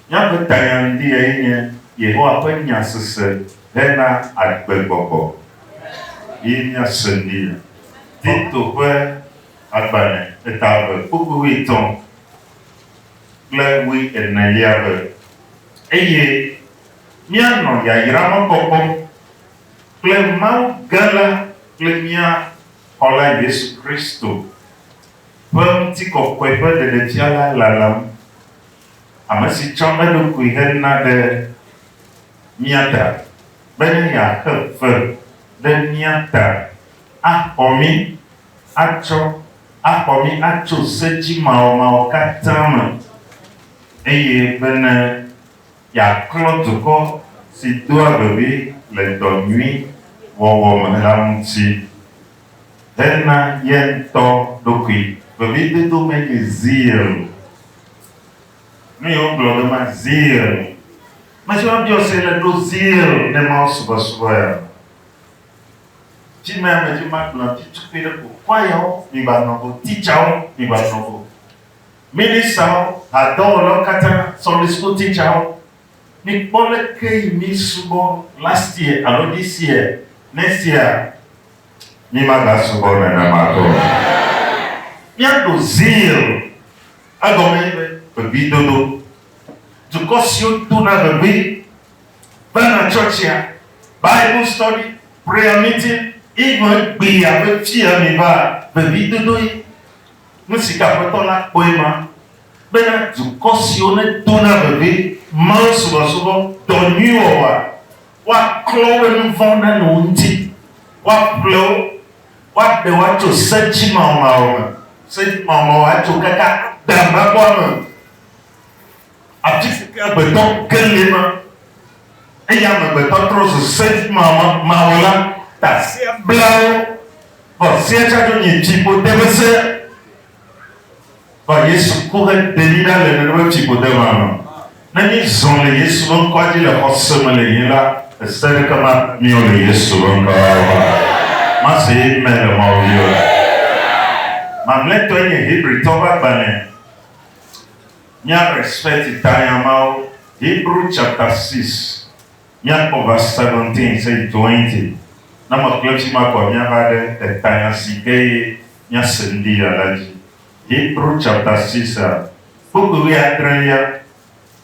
Míaƒe tayaŋdiae nye Yehowa ƒe Nya sese hena agbegbɔgbɔ. Ye míase ŋdi le Tito ƒe agbalẽ eta eve kpukpui wuietɔ̃ kple wuienelia be, Eye míanɔ yayra ma kpɔkpɔm kple Mawu gã la kple mía Xɔla Yesu Kristo. ƒe ŋutikɔkɔe ƒe ɖeɖefia la lalam, ame si tsɔ eɖokui hena ɖe mía ta bene yeaxe fe ɖe mía ta axɔ mí atsɔ axɔ mí atso se dzimawɔmawɔ katã me, eye bene yeaklɔ dukɔ si doa vevi le dɔ nyui wɔwɔ me la ŋuti. hena ye ŋutɔ ɖokui. Vevidodo me nye zeal. Nu yi wogblɔ ɖo ma, zeal. Metsɔ la biɔ se le ɖo zeal ne Mawu subɔsubɔ ya. Ci mea me dzi ma gblɔ ti tukui ɖe ko, kwayawo, mi va nɔ go, titsawo, mi va nɔ go. Ministawo, hadɔwɔlawo katã, Sunday school titsawo. Mikpɔ leke yi mi subɔ last year alo this year, next year mi ma ga subɔ nenema ke o. Mia ɖo zeal egɔme nye be vevie dodo. Dukɔ siwo dona vevie va na tsɔtsia, bible study, prayer meeting, even egbi abe fiya mi va vevie dodo ye. Nusi ke aƒetɔ la kpɔe ma. bena dukɔ siwo nedona vevi Mawu subɔsubɔ dɔ nyui wɔwɔa, woaklɔ woƒe nu vɔ̃wo ɖa le wo ŋuti, woaƒle wo, woaɖe wo atso se dzimawɔmawɔ me, se dzimawɔmawɔ atso wo katã agbe habɔbɔa me, afi si ke agbetɔ ke li ma, eye amegbetɔ trɔ zu se dzimawɔmawɔla, ta sea bla wo, vɔ sea tsa ɖo nyi dziƒo de ƒe se, Vɔ Yesu ku heɖe mí ɖa le nenema tsiƒode ma me. Ne mízɔ le Yesu ƒe ŋkɔa dzi le xɔse me le yin la, ese aɖeke maku míɔ le Yesu ƒe ŋkɔ la me o. Mase Amen le Mawu dzi o. Mamlɛtɔe nye Hebritɔ ƒe agbalẽ. Mía respect tanya mawo, Hebrew chapter six, míakpɔ verse seventeen se yi twenty. Ne meklẽ fima kɔa, míava ɖe etanya si ke ye Nya si ŋdi ya la dzi. Hebrew chapter six a, kpukpui wuiadre ya,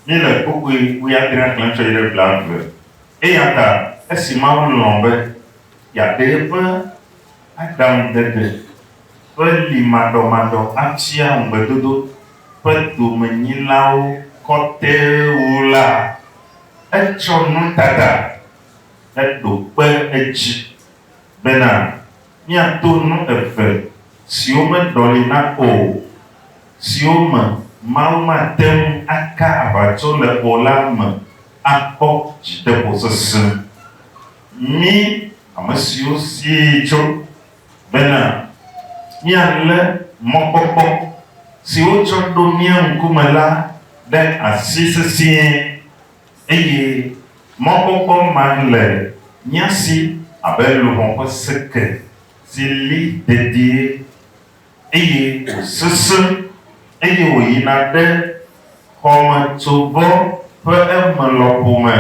míle kpukpui wuiadrea xlẽm tsɔ yi ɖe blaeve. Eyata esi Mawu lɔ̃ be yeaɖe eƒe aɖaŋudede ƒe li maɖɔmaɖɔ afia ŋugbedodo ƒe domenyilawo kɔte wu la, etsɔ nutata heɖo kpe edzi bena, Míato nu eve siwo meɖɔlina o, siwo me Mawu mate ŋu aka aʋatso le o la me akpɔ dzideƒosesẽ. Mí, ame siwo sie tso bena míalé mɔkpɔkpɔ si wotsɔ ɖo mía ŋkume la ɖe asi sesĩe Eye mɔkpɔkpɔ ma le mía si abe luʋɔ ƒe seke si li dedie, eye wòsesẽ, eye wòyina ɖe xɔmetsovɔ ƒe eme lɔƒo me,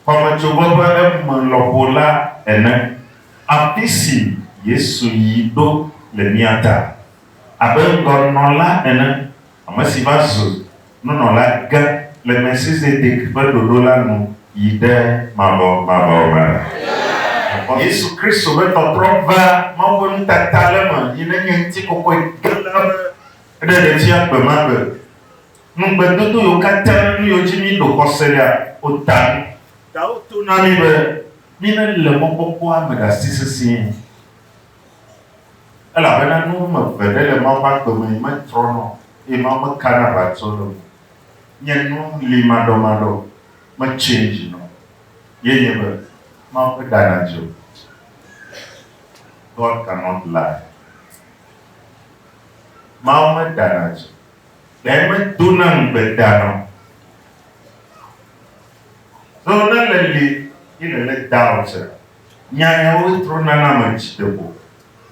xɔmetsovɔ ƒe eme lɔƒo la ene, afisi Yesu yi ɖo le mía ta abe ŋgɔnɔla ene. ame si va zu nunɔla gã le Melchizedek ƒe ɖoɖo la nu yi ɖe mavɔ mavɔwo me la. Mekpɔ Yesu Kristo be tɔtrɔ va Mawu ƒe nutata le eme yi ne nye ŋutikɔkɔe gã la ƒe ɖe le tsia gbe ma gbe. Nu gbedodo yiwo katã nu yiwo dzi mí ɖo xɔse lea, wota nu. Ɖawo to na mí be mí ne le mɔkpɔkpɔa me ɖe asi sesĩe. Elabena nu wɔme eve ɖe le Mawu ƒe agbe me metrɔna o, eye Mawu mekana aʋatso le ŋu nye nu li maɖɔmaɖɔ o, me change na o, ye nye be, Mawu ƒe ɖa nadze o. God cannot lie. Mawu me ɖa nadze o. Ɖe me dona ŋugbe dana o. Zɔnana le li ye le le doubt. Nya yawoe trɔna na ame dzi ɖe ko.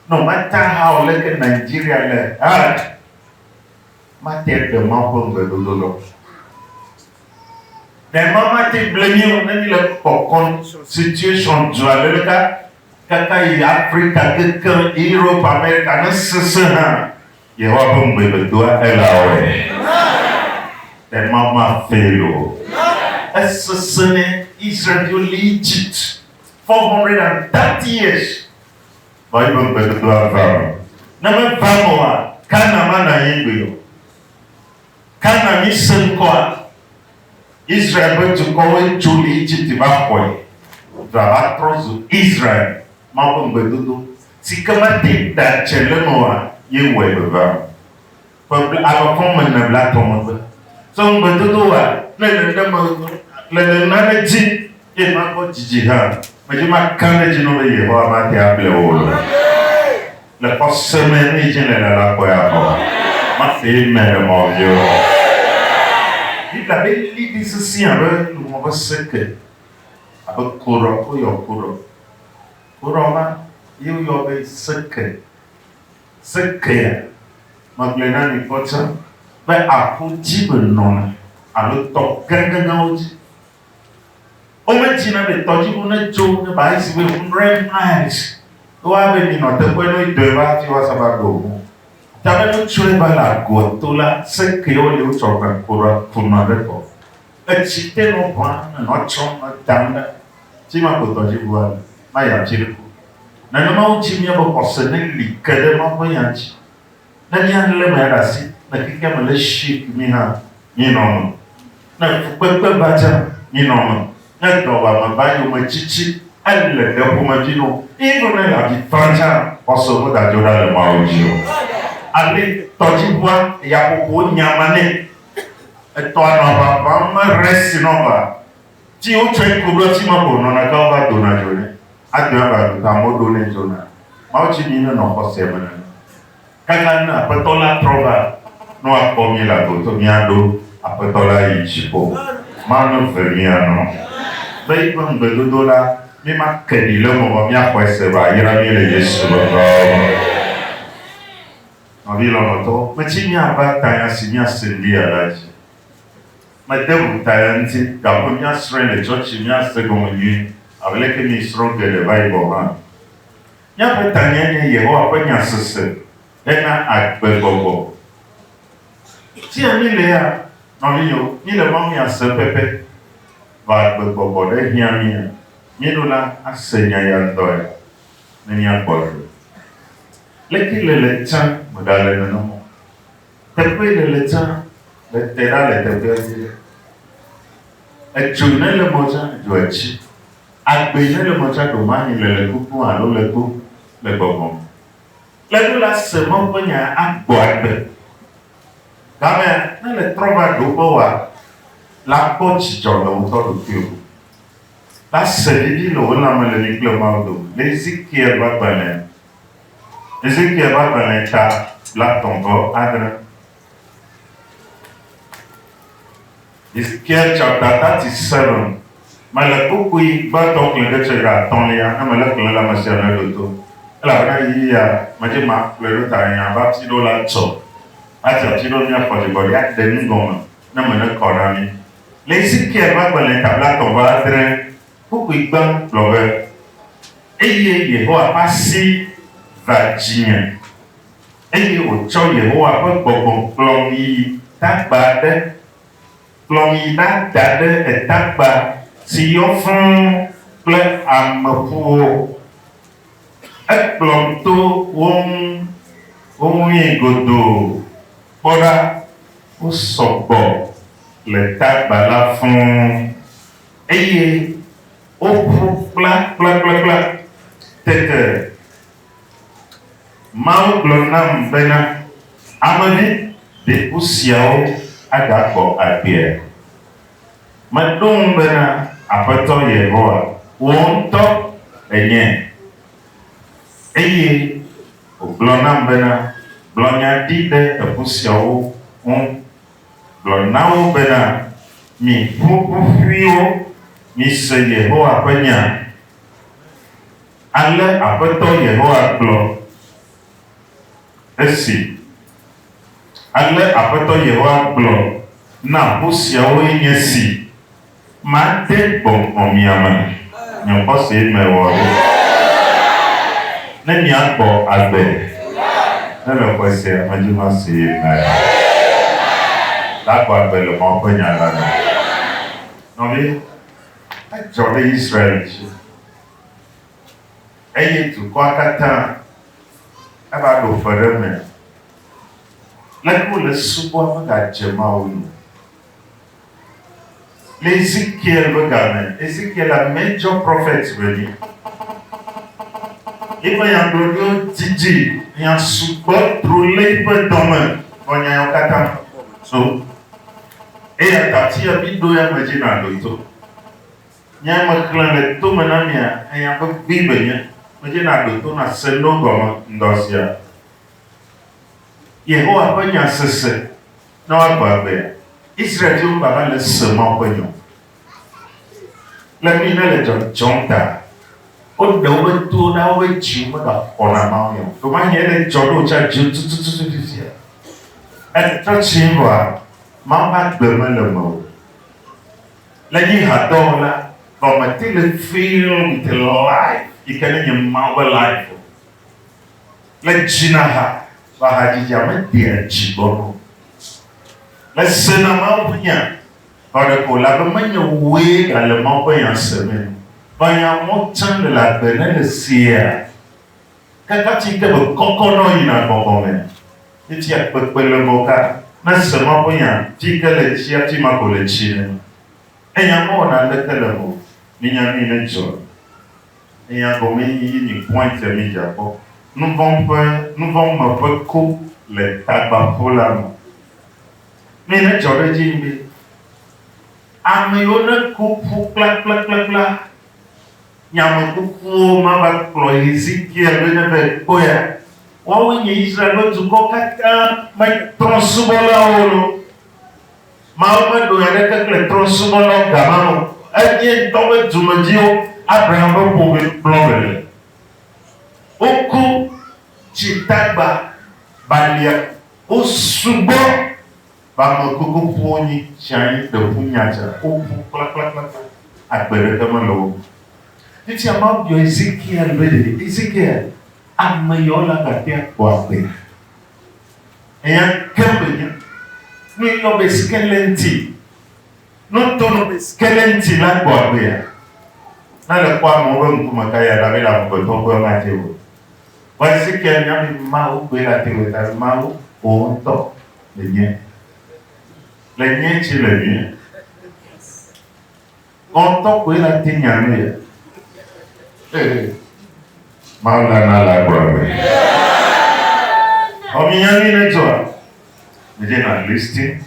Nɔ mata ha o leke Nigeria le hard mate ɖe Mawu ƒe ŋugbe dodo ɖɔ. Ɖe Mawu mate ble mí o ne mí le kpɔkɔn situation dzɔ ale ɖeka kaka yi Africa kekeŋ Europe America ne sese hã. Yehowa ƒe ŋugbe medoa Ella wɔe. Ɖe Mawu mafail o. Esesẽ ne Israel-viwo li Egypt 430 years vɔ eƒe ŋugbedodoa va eme. Ne meva eme oa, Canaan manɔ anyi gbeɖe o. Canaan mi se ŋkɔa? Israel ƒe dukɔwoe tso Egipte va xɔe, dua va trɔ zu Israel, Mawu ƒe ŋugbedodo, si ke mete ŋu da dze le eme oa, ye wɔe vevea o. Ƒe bla alɔ kɔm me ne bla tɔ̃ megbe. Tsɔ ŋugbedodo wɔa le nenem le nenema ɖe dzi, eye magbɔ dzidzi hã, medzi makã ɖe edzi na wò be Yehowa mate able wò o. Le xɔse me ne dze le le la kɔe abɔ. Ma fe me le mɔ vio. Biblia be li di sisi abe lumɔ be seke. Abe korɔ ko yɔ korɔ. Korɔ ma ye yɔ be seke. Seke ya. Ma gblɔe na mi kpɔtsã be aƒu dzi be nɔna alo tɔ gãgãgãwo dzi Womedzina be tɔdziʋu netso ne ba esi be 100 miles ke wa be minɔ teƒe ne dɔe va fi wa saba do ŋu. Ta be nutsɔe va le agoa to la se ke wo li wotsɔ ʋe kura kunɔ ɖe kɔ. Etsi te nɔ ʋua ne nɔ tsɔm nɔ dam ɖa. Fi ma ko tɔdziʋua le. Ma ya ŋtsi ɖe ko. Nenema wo dzi mía be xɔse ne li ke ɖe Mawu ƒe nya ŋtsi. Ne míalé mea ɖe asi le xexea me le zi ku mí hã, mínɔ eme. Ne fukpekpe va tsã, mínɔ eme. Ne dɔwuame va yome tsitsi ele ɖe ƒomevi no, míenɔ ne le avi fam tsã xɔse wodadzo ɖa le Mawu dzi o. Ale tɔdziʋua yaƒoƒo nya ma nɛ. Etɔa nɔ aʋa ʋãm me ɣe si nɔ va. Ci wo tsɔe ku ɖoa ci ma ko nɔna gã va dona dzo ne agbe ava ɖu ta mɔ ɖo ne zona. Mawu ci mi ne nɔ xɔsea me nene. Kaka ne Aƒetɔ la trɔ va ne wa kpɔ mi la go to mia ɖo Aƒetɔ la yi dziƒo. Mawu ne ve mia nɔ be yi ƒe ŋgbe dodo la mi ma ke ɖi le eme vɔ mia xɔe se va yra mi le Yesu ƒe ŋkɔa me. Nɔvi lɔlɔtɔwo, me ci mia va tanya si mia se ŋdi ya la dzi. Mede ŋuta eya ŋuti, gake míasrɔ̃e le tsɔtsi míase egɔme nyuie, abe leke miesrɔ̃ geɖe va yi gɔ̃ hã. Míaƒe tanyae nye Yehowa ƒe Nya sese hena agbegbɔgbɔ. Fia mílea? Nɔvinyɔwo, míle Mawu Nya sem pɛpɛ. Vɔ agbegbɔgbɔ ɖe hiã mía. Míeɖo la ase Nya ya ŋutɔe ne míakpɔ ɖoɖo. Leke le le tsã meɖale nenem o. Teƒe le le tsã le te ɖa le teƒe dzi ɖe. Etso ne le mɔ tsã dzo etsi. Agbe ne le mɔ tsã ɖo manyi le le kukun alo le kpo le gbɔgbɔ me. Le ɖo la se mɔ ƒe nya agbɔ agbe. Gamea ne le trɔ va ɖo ƒe wa la kpɔ dzidzɔ le ŋutɔ ɖokui o. La se ɖiɖi le wo lãme le mi kple Mawu dome le Ezekiel ƒe agbalẽa Ezekiel ƒe agbalẽ ca blaetɔ̃ vɔ adre. Ezekiel chapter 37 me le kpukpui gbãtɔ xlẽ ɖe tsɔ yi ɖe atɔ̃lia ne mele xlẽ le ame sia ame ɖoto elabena ɣeyiɣia medi maxlẽ ɖo ta nye abe ati ɖewo la tsɔ ati ati ɖewo mía xɔ dzigbɔɖi aɖe nu gɔme ne me ne kɔ na mí. Le Ezekiel ƒe agbalẽ ca blaetɔ̃ vɔ adre. Kpukpui gbam gblɔ be, Eye Yehowa ƒe asi va dzinye, eye wòtsɔ Yehowa ƒe gbɔgbɔ kplɔm yi tagba aɖe, kplɔm yi ɖada ɖe etagba si yɔ fũ kple ameƒuwo. Ekplɔm to wo ŋu, woŋui godoo. Kpɔ ɖa, wosɔ gbɔ le tagba la fũ. eye woƒu kplakplakplakpla. Tete Mawu gblɔ nam bena, Ame vi, ɖe ku siawo agakpɔ agbea? Meɖo ŋu bena, Aƒetɔ Yehowa, wò ŋutɔ ènye. Eye wògblɔ nam bena, Gblɔ nya ɖi ɖe eku siawo ŋu Gblɔ na wo bena, Mi ƒuƒoƒuiwo, mise Yehowa ƒe nya. Ale Aƒetɔ Yehowa gblɔ esi, Ale Aƒetɔ Yehowa gblɔ na ƒu siawoe nye si. Made gbɔngbɔn mia me. Nye xɔsee me wɔ ɖo. Ne miakpɔ agbe. Ne le xɔe sia me dzi ma see me. Lakpɔ agbe le Mawu ƒe nya la me. Nɔvi, edzɔ ɖe Israel dzi. Eye dukɔa katã eva ɖo fe ɖe eme. Leke wole subɔa megadze Mawu nu. Le Ezekiel ƒe ga me, Ezekiel a major prophet ƒe vi. Eƒe nyagblɔɖiwo didi nya sugbɔ dro le eƒe dɔ me nɔ nya yawo katã so. Eya ta fia mi ɖo ya me dzi na ɖo to. Nya ya me xlẽ le to me na mia enya be gbee be nye me dzi na ɖo to na se no gɔme ŋdɔ sia. Yehowa ƒe nya sese. Ne woagblɔ agbea, Israel ƒe Yehowa hã le se Mawu ƒe nya. Le nuyi ne le dzɔdzɔm ta, woɖe woƒe towo ɖa, woƒe dziwo megaxɔ na Mawu nya o. Ɖomahie ele dzɔ ɖe wò tsã dziwò tutututu fifia. Etrɔ tsi vɔa, Mawu ƒe agbe mele eme o. Le nye hadɔ me la, vɔ mete le filled with life yi ke ne nye Mawu ƒe life o. Le dzinaha ƒe hadzidzia medea dzi gbɔna o. Mesena Mawu ƒe nya nɔ ɖe ko elabe menye wòe gale Mawu ƒe nya semee o. Menya mɔ tsã le agbe ne le sea ke kati yi ke mekɔkɔ nɔ yina gbɔgbɔ me. Etia kpekpe le ŋgɔ ka nase Mawu ƒe nya fi yi ke le tsi afi ma ko le tsi ne. Enya mewɔ naneke le eme o. Menya nui ne dzɔe. Eya gɔme nyi yi mi point ya mi dza kpɔ. Nuvɔ ƒe nuvɔ me ƒe ko le tagbaƒo la me. Nuyi ne dzɔ ɖe edzi be ame yiwo ne ku ƒu kplakplakplakpla nye ame kukuwo ma va kplɔ Hezekiel be ne va ekpɔea woawoe nye Israel ƒe dukɔ katã me tɔ subɔlawo lo. Mawu meɖo nya aɖeke kple trɔ̃subɔlawo ga ma me o. Edie ŋutɔ ƒe dumedziwo, Abraham ƒe ƒome kplɔ me le. Woku tsi tagba balia wo sugbɔ va ame kuku ƒu wo nyi tsi anyi ɖe ƒu nya tsa woƒu kplakplakplakpla agbe ɖeke me le wo me. Fifia Mawu biɔ Ezekiel be ɖe Ezekiel ame yawo la gate akpɔ agbea? Eya ke menya. Nu yi nɔ be skelenti. Nu to nɔ be skelenti la gbɔ agbea. Na le kpɔ amewo be ŋkume ka ya la be le amegbetɔ ƒe ma te o. Vɔ Ezekiel nya be Mawu gbe la te o ta be Mawu wò ŋutɔ le nye. Le nye tsi le nye. Wò ŋutɔ koe la te nya nu ya. Ee, Mawu la na le agboa me. Ɔ mi nya nui ne dzɔa? Mi dze na listing.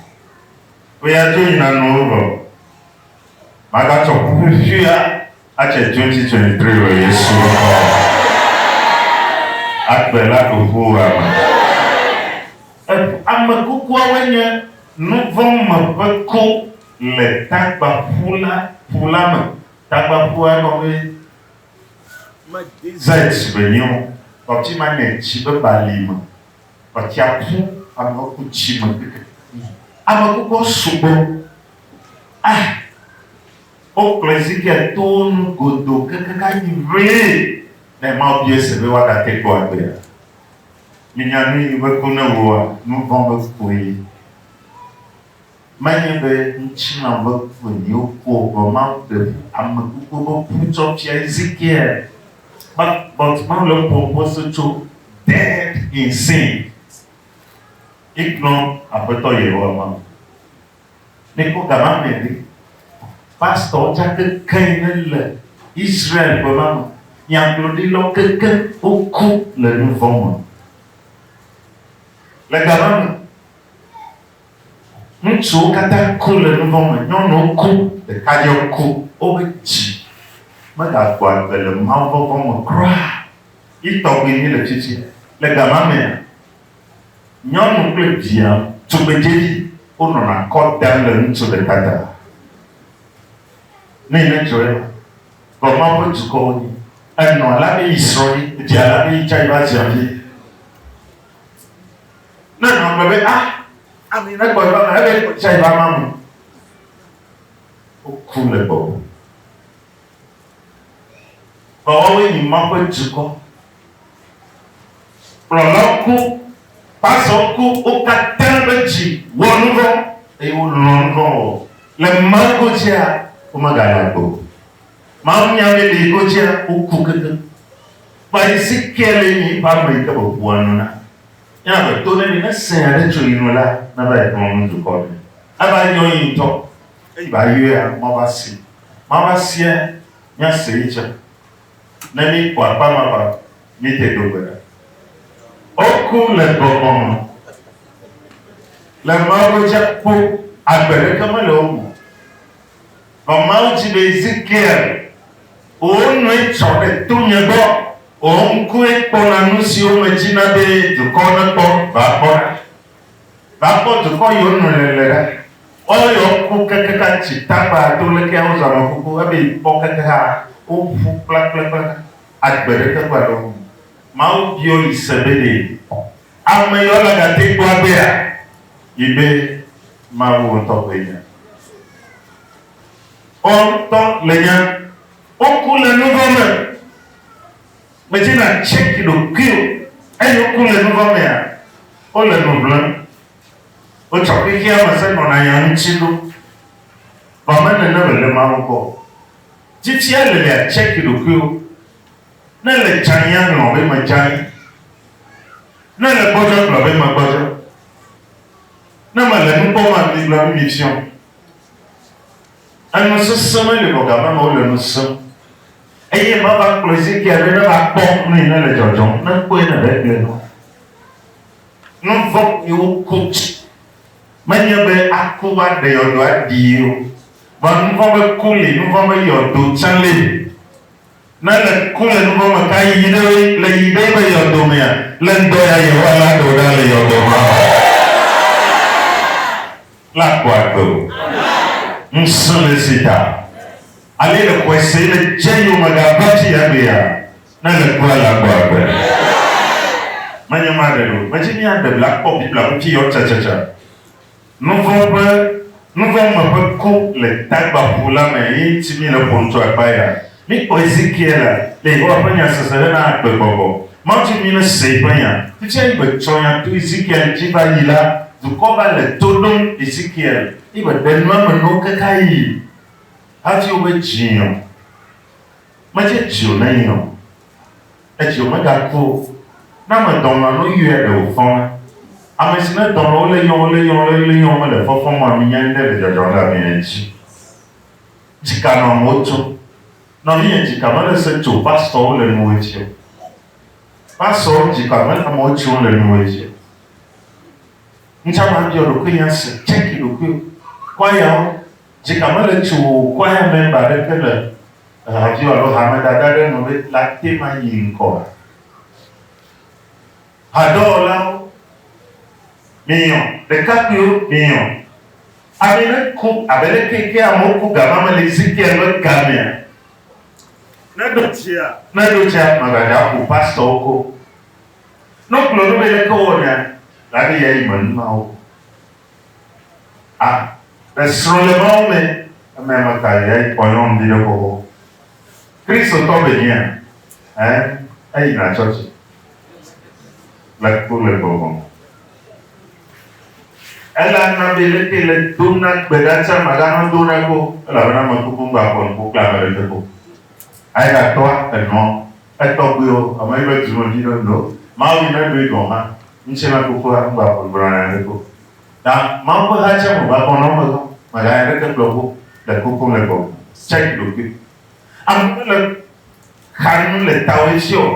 Wo ya dzo yi na nuwo vɔ. Ma ga tsɔ ku ƒuƒuia a tse 2023 le Yesu ŋkɔ me. Agbe la go ƒu wo ame. Ame kukuawoe nye nuvɔ̃ me ƒe ku. le tagbaƒu la ƒu la me. Tagbaƒua gɔme me desert me nyi o. Ɔti ma ne tsi be bali me. Ɔtia ƒu amewo ku tsi me keke. Ame kukɔ sugbɔ. Ah! Wo kplɔ Ezekiel to wo nu godo keke ka yi ʋee. Ne Mawu bia se be woada te kpɔ agbea, mi nya nu yi be ku ne woa? Nuvɔ̃ be kue. Menye be ŋutilã ƒe kuenyiwo kpɔ o, vɔ Mawu ɖe ƒu ame kukue ƒe ku tsɔ fia Ezekiel. But, but Mawu le eƒom ƒe se tso dead in sin. Mígblɔ Aƒetɔ Yehowa Mawu. Míkpɔ ga ma me ɖi. Pastor tsa kekeŋ ne le Israel ƒe ma me. Nyagblɔɖilawo kekeŋ woku le nuvɔ̃ me. Le ga ma me. Ŋutsuwo katã ku le nu vɔ̃ me, nyɔnuwo ku, ɖekadzewo ku. Woƒe dzi megagbɔ agbe le mawuvɔvɔ̃ me kura o. Yi tɔgbi míele tsitsi le ga ma mea? Nyɔnu kple via tugbedzedzi wonɔna kɔ dam le ŋutsu ɖeka ta. Nɛ ne dzɔe la, vɔ Mawu ƒe dukɔwo nyi. Enɔ alea be yi srɔ̃ ye, edze alea be yi tsã yi va zia vie. Ne nɔ gbe be, ah, ami ne gbɔ nɔ na ebe tsa iba ma mu. Woku le gbɔ. Gbɔwɔwe ni ma ƒe dukɔ. Kplɔlɔ ku, pazɔ ku, wo katã be dzi wɔ nuvɔ, eye wo lɔ nuvɔ wɔ. Le ma godzia, wo me gale agbo. Ma ŋu nya be ɖe godzia, wo ku keke. Kpa yi si kia le nyi ba me yi ke be ʋua nɔ na. Ke ame to neni ne se aɖe tso yi nu la, neva yi xlɔ̃ nu dukɔ ɖe. Eva yɔ yi ŋutɔ, eyi va yɔea mɔ va si. Mɔ va sia mía se yi tsã. Ne mí kpɔ akpa ma va, mí te ɖo gbe ɖa. Woku le gbɔgbɔ me. Le Mawu godzi akpo, agbe ɖeke mele wo me o. Vɔ Mawu dzi be Ezekiel, wò nɔe tsɔ ɖe to nye gbɔ, wò ŋkue kpɔna nu siwo medzi na be dukɔwo nekpɔ. Va kpɔ ɖa, va kpɔ dukɔ yiwo nɔe le le ɖa. Woawo ya woku kekexa tsi tagba to lekea wozɔ ame kuku ebe kpɔ kekexa woƒu kplakplakpla agbe ɖe teƒe aɖewo. Mawu biɔ yi se be ɖe. Ame yɔ la gate ŋu gblɔ agbea yi be Mawu ŋutɔ koe nya. Woawo ŋutɔ le nya. Woku le nuvɔ̃ me. Medi na tseki ɖokuiwò. Eyi woku le nuvɔ̃ mea, wole nu ʋlem. Wotsɔ xexea me se nɔna nya ŋuti ɖo. Vɔ menene wòle Mawu gbɔ o. Dzitsia lelia tseki ɖokuiwò. Ne ele dzãe aŋlɔ be medzãe, ne ele gbɔdzɔ agblɔ be megbɔdzɔ, ne mele nu kpɔm agblɔ be mifiɔ. Enu sesẽ me le nɔ gama me wole nu sem. Eye mava kplɔ Ezekiel be neva kpɔ nu yi ne le dzɔdzɔm, ne kpɔe ne be egblɔe nɔ. Nu vɔ̃ yi woku dzi menye be aku woaɖe yɔdo aɖii o, vɔa nu vɔ̃ be ku li, nu vɔ̃ be yɔdo tsã li. Ne le ku le nuvɔ̃ me ka yiyi ɖe ɣi le yiyi ɖe yibe yɔdo mea, le ŋdɔ ya Yehowa la ɖe wò ɖa le yɔdo ma me. La ku agbe o. Ŋusẽ le esi ta. Ale le xɔe se yi le dze yome ga va tsi ya gbe ya. Ne le kua la ku agbe. Menye ma ɖe ɖo. Medzi mia ɖe bla kpɔ Biblia ŋuti yɔ tsatsatsa. Nu vɔ̃ ƒe nu vɔ̃ me ƒe ku le tagbaƒu la me ye ŋuti míle ƒom tso akpa ya. Míkpɔ Ezekiela le Yehowa ƒe nya sese hena agbegbɔgbɔ. Mawutsi mí ne se eƒe nya. Fifia yi be tsɔ nya to Ezekiel ŋuti va yi la, dukɔ va le to ɖom Ezekiel yi be ɖe nua me nuwo kaka yi hafi wobe dzi o. Medze dzi o na yi o. Etsi o meda kpo o. Na me dɔn ma no yɔe ɖe o fɔn me. Ame si ne dɔn o le yɔn o le yɔn o le yɔn o me le fɔfɔn ma mi nya ŋɖe le dzɔdzɔn ɖe ame yɛ dzi. Dzika nɔ amewo tso. Nɔ mi yɛ dzika me le se tso pastor wo le nuwe dzi o. Pastor wo dzika me le amewo tso le nuwe dzi o. Ŋtsa ma biɔ ɖokui nya se check ɖokui o. Kwaya wo. Dzi ka me le tso kwaya mɛmba ɖe te le havi alo hamedada ɖe nu be la te ma yi ŋkɔa? Hadɔwɔlawo, minyɔ, ɖekakpuiwo, minyɔ. Ame ne ku abe leke ke amewo ku gama me le Ezekiel ƒe gamea, ne ɖo dzia, ne ɖo dzia magbadza ƒo pastorwo ko. Ne wogblɔ nu be leke wowɔnɛ la ɖe ya yi me numawo. A. Le srɔ̃lemawo me, eme me ka ɣi eyi kpɔ nyɔnu ɖi ɖe xoxo? Kristotɔ vevia? Ẽ, eyina tsɔtsi le ku le gbɔgbɔ me. Ele ana be leke le do na gbe ɖa tsia ma ɖa medo na kpo o, elabena ame kuku ŋgba kpɔ nuku kple ame ɖe ƒe kpo. Ayi ɖa tɔa, enɔa, Etɔgbuiwo, ame yi be dunɔ dzi ɖo no Mawu yi ne ɖoe gɔ̃ hã, ŋtsɛ na Fofoa ŋgba ƒo ŋgblɔna nya ɖeke o. Ta Mawu ƒe ha tsɛ me va kpɔ nɔn me gã me gã nya ɖeke gblɔ ƒo le koko ŋle gɔ̃ me. Tsɛk ɖokui. Ame ɖe le xa nu le tawe tsɛ ɔ?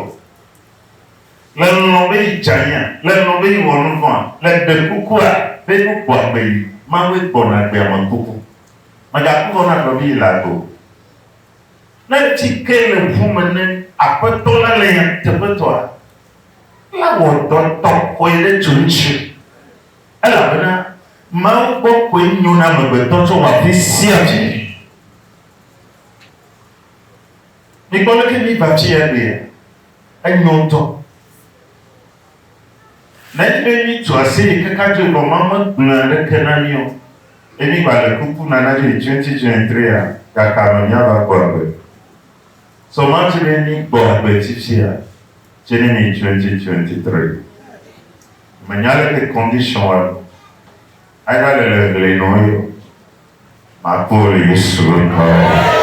Le lɔn be yi djanyia? Le lɔn be yi wɔ nuvɔa? Le ɖe kuku a be nu gbɔ agbe yi? Mawue gbɔ na agbe ame kuku. Mèga ku vɔ na gblɔ be yi le agbe o. Ne tsi ke le ŋu me ne Aƒetɔ la le nyateƒetɔa, la wɔ dɔ tɔ kɔe ɖe tso ŋutsu, elabena Mawu gbɔ koe nyo na amegbetɔ tso wɔ afi sia afi. Mikpɔ leke mi va fi ya ɖea? Enyo ŋutɔ. Nenye be míetu aseye kaka dzo vɔ Mawu megblɔe aɖeke na mí o, eye míegbale kuku na nadzo yi 2023 a, gakame míava kpɔ agbe? Sɔ Mawu dzi be míekpɔ agbe tsitsia tse ne míeyi 2023. Menya leke condition wa nu aeva le le ŋli nɔ ye o. Makpɔ wo le Yesu ŋkɔ me.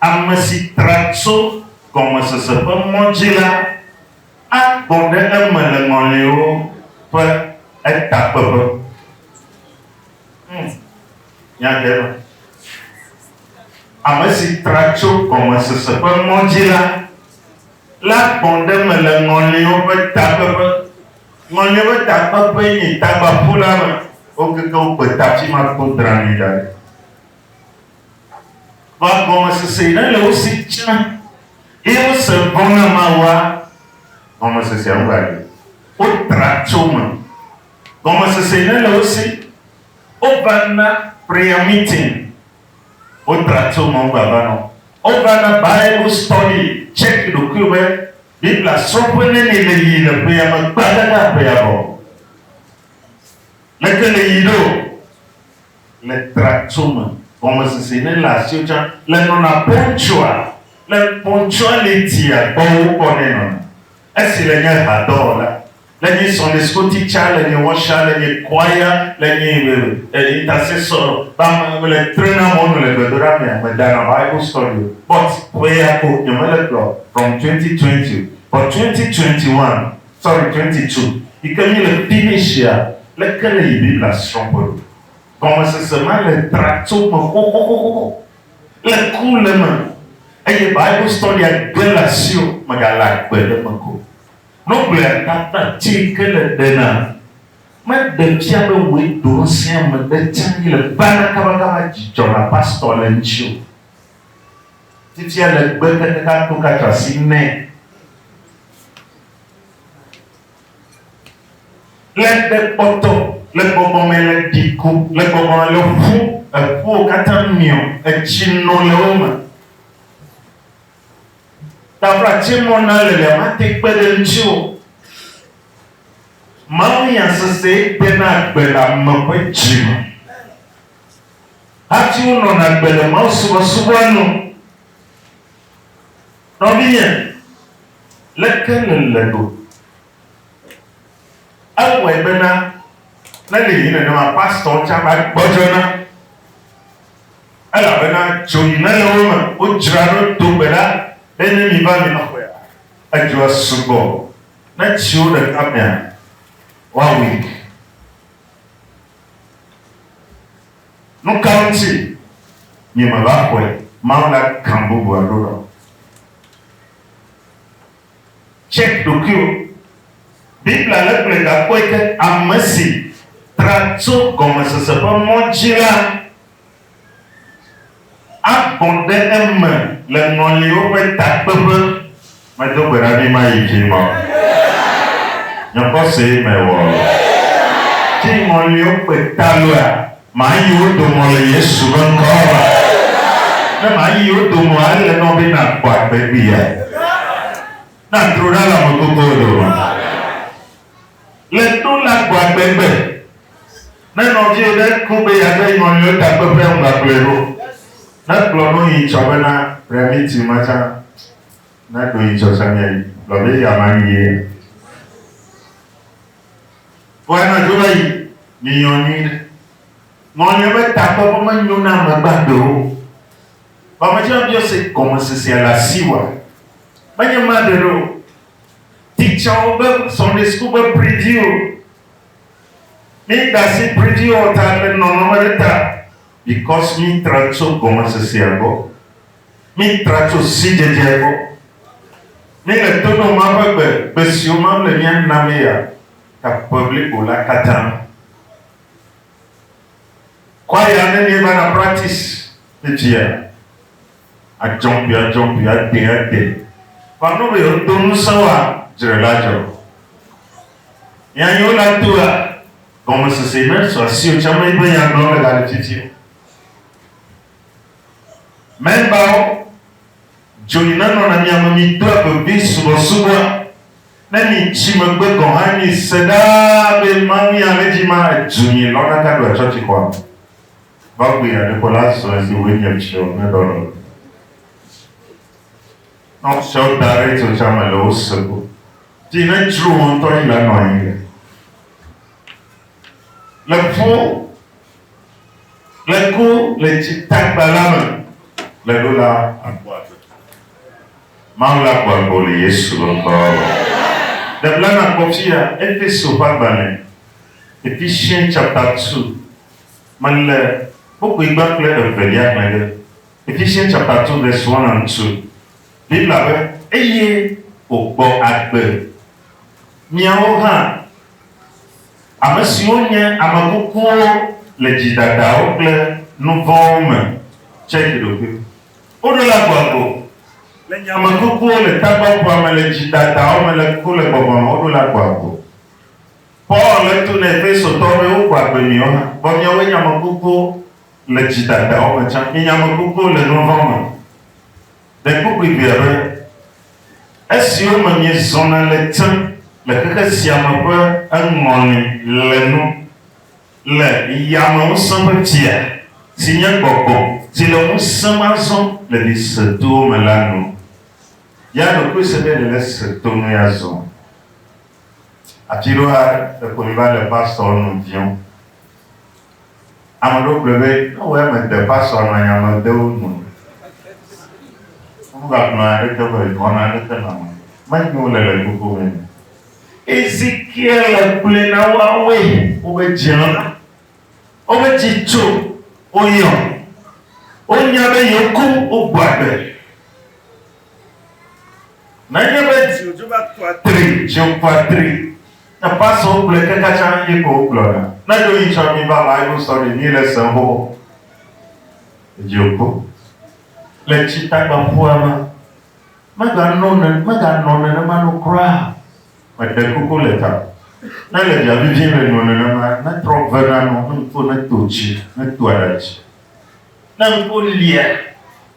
Ame si tra tso gɔmesese ƒe mɔ dzi la agbɔ ɖe eme le ŋɔliwo ƒe etakpeƒe. Hm, nya ɖe eme. Ame si tra tso gɔmesese ƒe mɔ dzi la, la gbɔ ɖe eme le ŋɔliwo ƒe takpeƒe. Ŋɔliwo ƒe takpeƒee nye tagbaƒu la me. Wokeke wo kpeta afi ma kpo dranɛ da ɖi. Kpɔ gɔmesese yi nele wo si tsã, eye wose ŋgɔ na Mawua. Gɔmesesea ŋu va ɖi. Wotra tso eme. Gɔmesese yi nele wo si, wova na prayer meeting. Wotra tso eme wogava na wo. Wova na Bible study. Tsɛki ɖokuiwò be Biblia srɔ̃ƒe neni le yi le ƒea me gbadada ƒea vɔ. Leke le yi ɖo? Le tratso me, gɔmesese ne le asiwò tsã le nɔna pontsoa, le pontsoalitia gbɔ wokpɔ nɛ nɔna. Esi le nye hadɔwɔla, le nye Sunday school teacher, le nye usher, le nye choir, le nye intercessor ba me, mele trena mɔnu le gbedoɖa mea, me dana Bible study o, but ƒea ko nye mele kplɔ from twenty twenty o, but twenty twenty one, Sɔre Kreti tso yi ke mí le Pinicia le ke le yi Biblia srɔ̃ ƒe ɖo. Gɔmesese ma le tra tso me xoxoxoxo le ku le eme eye Bible Study a ge le asiwò megale agbe ɖe eme ko. Nogblɔea tata ti yi ke le ɖe na me ɖe fia be wòe ɖo ŋusẽ ame ɖe tse yi le bana kabakaba dzi dzɔna pastor le ŋuti o. Titia le gbe keteka to ka tsɔ asi nɛ. Le ɖe kpɔtɔ, le gbɔgbɔ me le ɖiko, le gbɔgbɔ me le ƒu, eƒuwo katã miɔ, etsi no le wo me. Tafla tse mɔ na lelea mate kpe ɖe ŋuti o. Mawunya sese dena gbe le ame ƒe dzi me. Hafi wonɔna agbe le mawusubɔsubɔa nu. Nɔvinye, leke nèle ɖo? Ewɔe bena ne nèyi nenema pastorwo tsã va gbɔdzɔna, elabena dzoɣi mele wo me. Wodzra ɖo do gbe ɖa be ne miva mi nɔƒea, edzoa sugbɔ, ne tsi wo ɖeka mea, woawui. Nu ka ŋuti miemeva xɔe Mawu na gã bubu alo ɖɔ? Tsek ɖokuiwò. Biblia lé kple gakpɔe ke ame si tra tso gɔmesese ƒe mɔ dzi la Agbɔ̃ ɖe eme le ŋɔliwo ƒe takpeƒe. Medo gbe ɖa be mayi dzi mɔ. Nye xɔsee mewɔ. Tsi ŋɔliwo kpe ta lua, mayi wo domɔ le Yesu ƒe ŋkɔ me. Ne mayi wo domɔ ele nɔ be nakpɔ agbe kpli ya. Na tro ɖa le amekukuwo dome. Le to la gbɔa gbegbe ne nɔvie ɖe ku be yeade nyɔnuiwo takpeƒea ŋugbagblɔe ɖo. Ne kplɔ no yi tsɔ bena rea mi tui ma tsã na do yi tsɔ tsã mia yi gblɔ be ya ma yi ye. Vɔ anɔ dzo va yi mi nyɔ nyui ɖe. Nyɔnuiwo be takpeƒe me nyo na ame gbagbe wo. Vɔ ame tsɛ biɔ se gɔmesesea le asi woa? Menye ma ɖe ɖo. Teacher wo be Sunday school be preview. Mi dasi preview o ta le nɔnɔme ɖe ta. Because mi tra tso gɔmesesea gbɔ. Mi tra tso sidzedzea gbɔ. Mi le tono ma ƒe gbe, gbe siwo ma le mia na mi ya, ta ƒe blibo la katã. Kwaya ne mi va na practice, edzia. adzɔmpiadzɔmpi adee ade va nɔ be yewodo ŋusẽ woa, dzre la dzɔ. Hiãhiãwo la doa gɔmesese na tso asiwò tsã mee be nya gblɔm èle le titi o. Mɛnbawo, dzoyi nenɔna mia me midoa vevi subɔsubɔa, ne mitsi megbe gɔ̃ hã mise ɖaa be Mawu ya le dzi ma edu mi lɔna gaɖoa tsɔtsixɔa me. Gbɔgbɔe aɖeƒo la zu esi wòe nye tsrɔ̃ kple ɖɔɖɔ. Ne wosɔ wo da ɖe tsotsa me le wo se ko, ti ne tsro wo ŋutɔ yi la nɔ anyi le le ƒu le ku le tsi tagba la me le ɖo la akpɔ agbe. Mawu la kpɔ agbe wo le Yesu ƒe ŋkɔa me. Ɖe bla nakpɔ fia Efeso ƒe agbalẽ Ephesians chapter two Mele kpukpui gbã kple evelia hlẽ ɖe Efisien Tsapato ɖe Suana ŋutu, Biblia be, Eye wògbɔ agbe. Miawo hã, ame siwo nye ame kukuwo le dzidadawo kple nuvɔ̃wo me, tse dzi ɖokuiwo. Woɖo la gbɔ agbo le nye ame kukuwo le tagbɔƒea me le dzidadawo me le ku le gbɔgbɔ me, woɖo la gbɔ agbo. Paul le to ne Efesotɔwo be woxɔ agbe miwo hã, vɔ miawoe nye ame kukuwo le dzi dadawo me tsã. Mienye ame kukuwo le nu vɔ̃ me. Ɖekpokpui ʋɛ aɖe, esiwo me miezɔna le tem le xexe sia me ƒe eŋɔli le nu le yame ŋusẽ ƒe fia, si nye gbɔgbɔ si le ŋusẽ me azɔ le ɖi se towo me la nu. Ya ɖokuiseɖe le le se to nu ya zɔm. Atsiɖoɖa le konyi va le pastor nu viɔ. Ame ɖewo gblɔe be ne wɔ eme de pastor nɔ nya me de wo nu. Wova gblɔ nya ɖe te be wɔna ɖe te nɔ ame menyo le le gbogbo me. Ezekiel le kple na woawe wobe dziɔ na wobe dzi tso woyɔ. Wonya be yewo ku wogbɔ agbe. Nenye be dziwò dzo va kua tri, dziwò kua tri, ne pastor wo gblɔe kaka tsã ye ko wo gblɔna. Ne ɖo yi tsɔ mi va bible study mi le sem xoxo. Dziwò ku. Le tsi tagba ƒua me, me ga nɔ ne, me ga nɔ nenema nu kura. Me ɖe kuku le ta. Ne le via vivi me nɔ nenema, ne trɔ ve na nu, ne ŋku ne to tsi, ne to aɖa tsi. Ne ŋku lia.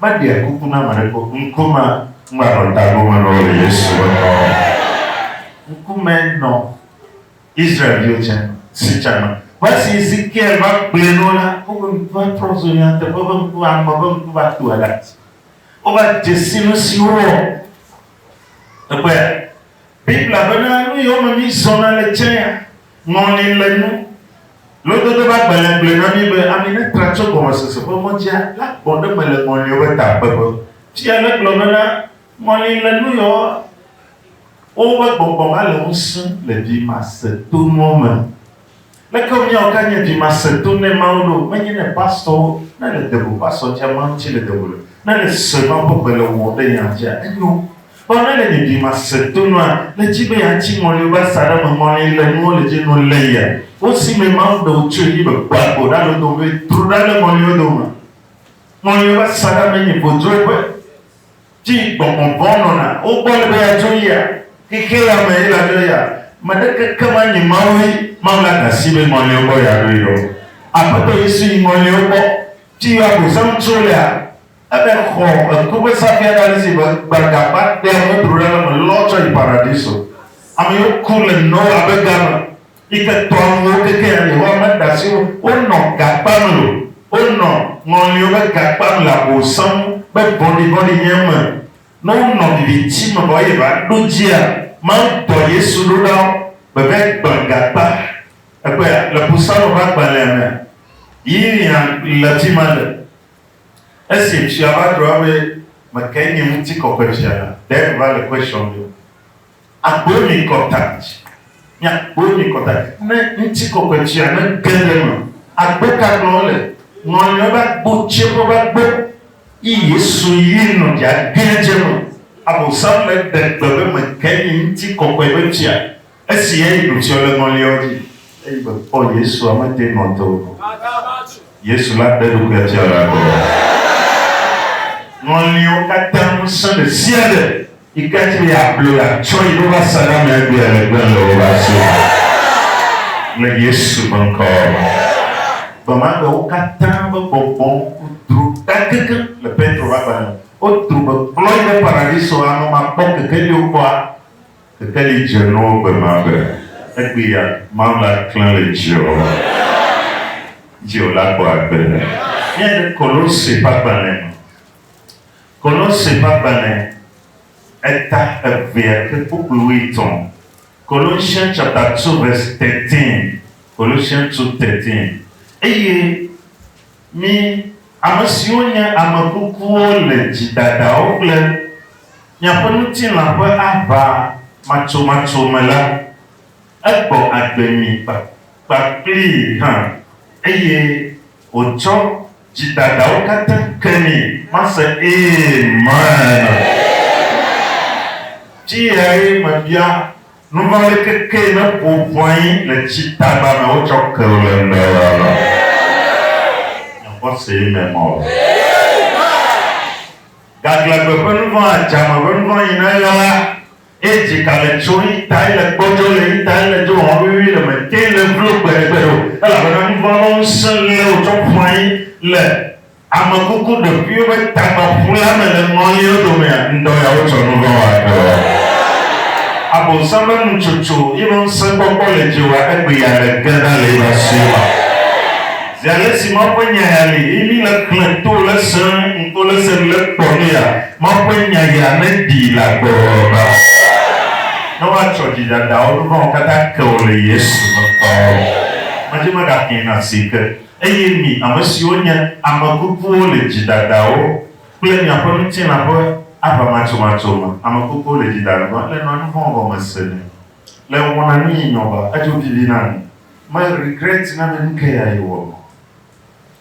Meɖea kuku na ame aɖeke o, ŋku ma ŋlɔa nɔ tago me nɔ le Yesu ƒe ŋkɔ me. Ŋku me nɔ Israel-viwo tsã si tsã me. Vɔ esi Ezekiel va gblɔe nɔ la, woƒe ŋkua trɔ zu nyateƒe ƒe ŋku, ame ƒe ŋku va tu aɖati. Wova dze si nu si wowɔ. Ekpɔea? Biblia bena, Nu yiwo me mizɔna le tsɛa, Ŋɔli le nu. Lododo ƒe agbalẽa gblɔe na mí be ami ne tra tso gɔmesese ƒe ŋɔdzia, la gbɔ ɖe eme le ŋɔliwo ƒe takpeƒe. Fia la gblɔ bena, Ŋɔli le nu yɔ woƒe gbɔgbɔ va le ŋusẽ le vimasetonu me. Leke míawɔ ke anye vimasetonu ne Mawu ɖo, menye ne pastorwo, ne le de go pastor dzia Mawu ŋuti le de go le, ne le sue Mawu ƒe gbe le wɔm ɖe yã dzia enyo Vɔ ne le nye ɖi ma sese to nua, le dzi be ya tsi ŋɔli wobe asa ɖe me ŋɔli yi le nuwo le dzi nu le yia, wo si me Mawu ɖe wo tsoe yi me kpɔ agbo ɖa le wo dome be tro ɖa le ŋɔli wo dome ma. Ŋɔli wobe asa ɖa me nyi vodzoe ƒe dzi yi gbɔngbɔn vɔ̃ nɔna wo gbɔ le be ya dzo yia, xexea ya me yi la dzo yia, me ɖe keke ma nyi Mawu yi Mawu la da si be ŋɔli wo gbɔ ya ɖo yi ɖo. Aƒetɔ Yesu yi ŋɔli wo gbɔ dzi yi wo abosam tso lea. Eden xɔ eku ƒe sabiaɖe ale si be gbadagba ɖea ŋutru ɖe le eme lɔ tsɔ yi Paradiso. Amewo ku le Noa ƒe ga me yi ke tɔa nuwo kekeɛ Yehowa meda asi wo wonɔ ga kpam o. Wonɔ ŋɔliwo ƒe ga kpam le abu sẽ ŋu be vɔ̃ɖivɔ̃ɖi nye eme. Ne wonɔ viviti me vɔ eye va ɖo dzia, Mawu dɔ Yesu ɖo ɖa wo be va gblẽ ga kpa. Èkpɔea? Le Psalmo ƒe agbalẽa mea, Yiriam le fi ma le Esi ŋutsua va gblɔ be, Mekee nye ŋutikɔkɔe sia la, ɖe wòva le question me o. Akpɔe mi contact, miakpɔe mi contact ne ŋutikɔkɔe sia ne ge ɖe eme. Agbo ka gblɔm wole? Ŋɔliɔ be agbo tse ƒe be agbo. Yi Yesu yi nɔ dza gee tse me. Abosam le ɖe gbe be mekee nye ŋutikɔkɔe be tsia Esi Andrew tsyɔ ɖe ŋɔliawo dzi eye wòkpɔ Yesua, mede ŋɔ te o. Yesu la ɖe eɖokui afia le agbe me. Ŋɔliwo katã ŋusẽ ɖe sia ɖe yi ke ate ŋu yi ablɔe la tsɔ yi ɖo va sa ɖe ame aɖe gbea legba le woƒe asi me le Yesu ƒe ŋkɔ me. Gbe ma gbe wo katã ƒe gbɔgbɔwo dro ɖagege le Petro ƒe agbalẽ me. Wodro be kplɔe ɖe Paradiso amemakpɔkeke yio kpɔa Teteli dze nɔ gbe ma be egbe ya Mawu la klẽ le dziɔ, dziɔ la kpɔ agbe. Míade Kolose ƒe agbalẽ me. Kolose ƒe agbalẽ eta evea ke kpukpui wuietɔ̃. Colossians chapter two verse thirteen, Colossians two thirteen. Eye Mi, ame siwo nye ame kukuwo le dzidadawo kple miaƒe ŋutilã ƒe aʋa matsomatso me la, egbɔ agbe mi kpakplii hã, eye wòtsɔ dzidadawo katã ke mi. Mase Amen! Dziyae mebia. Nuvali keke ne ƒo ʋɔae le tsi tagba me wotsɔ ke o le ŋgbe o ya la, nye xɔsee me mɔ o. Gaglãgbe ƒe nuvɔ̃, adzame ƒe nuvɔ̃ yi ne eɣla la, eye dzika le tsom, yi ta ele gbɔdzɔ le, yi ta ele dzo hɔ̃ wuiwui le, mètee le vlo gbeɖegbeɖe o, elabena nuvɔ̃ ƒe ŋusẽ lé wòtsɔ ƒu anyi le. Ame kuku ɖokuiwo ƒe tagba ƒu la me le ŋɔliwo domea? Ŋdɔ ya wotsɔ nu vɔ̃ wɔa dɔa? Abosam ƒe nutsotso yi ƒe ŋusẽkpɔkpɔ le dzi wɔa egbe ya le ge ɖa le eƒe asue ma. Zi ale si Mawu ƒe nya ya li, eye mi le xlẽ to le se ŋko le se le kpɔ nu ya, Mawu ƒe nya ya ne ɖi le agbe wɔwɔ ba. Ne woatsɔ dzi dada wò nu vɔ̃wo katã ke wò le Yesu ŋkɔ me. Medzimegakee na si ke. Eye mi, ame siwo nye ame kukuwo le dzidadawo kple miaƒe ŋutilã ƒe aʋamatsomatso me, ame kukuwo le dzidada be ele nɔa nu vɔ̃ wɔm me se nɛ, le wɔna nu yi nyɔ ba, edzo vivi na nu, me regret na be nuke ya ye wɔ nɔ.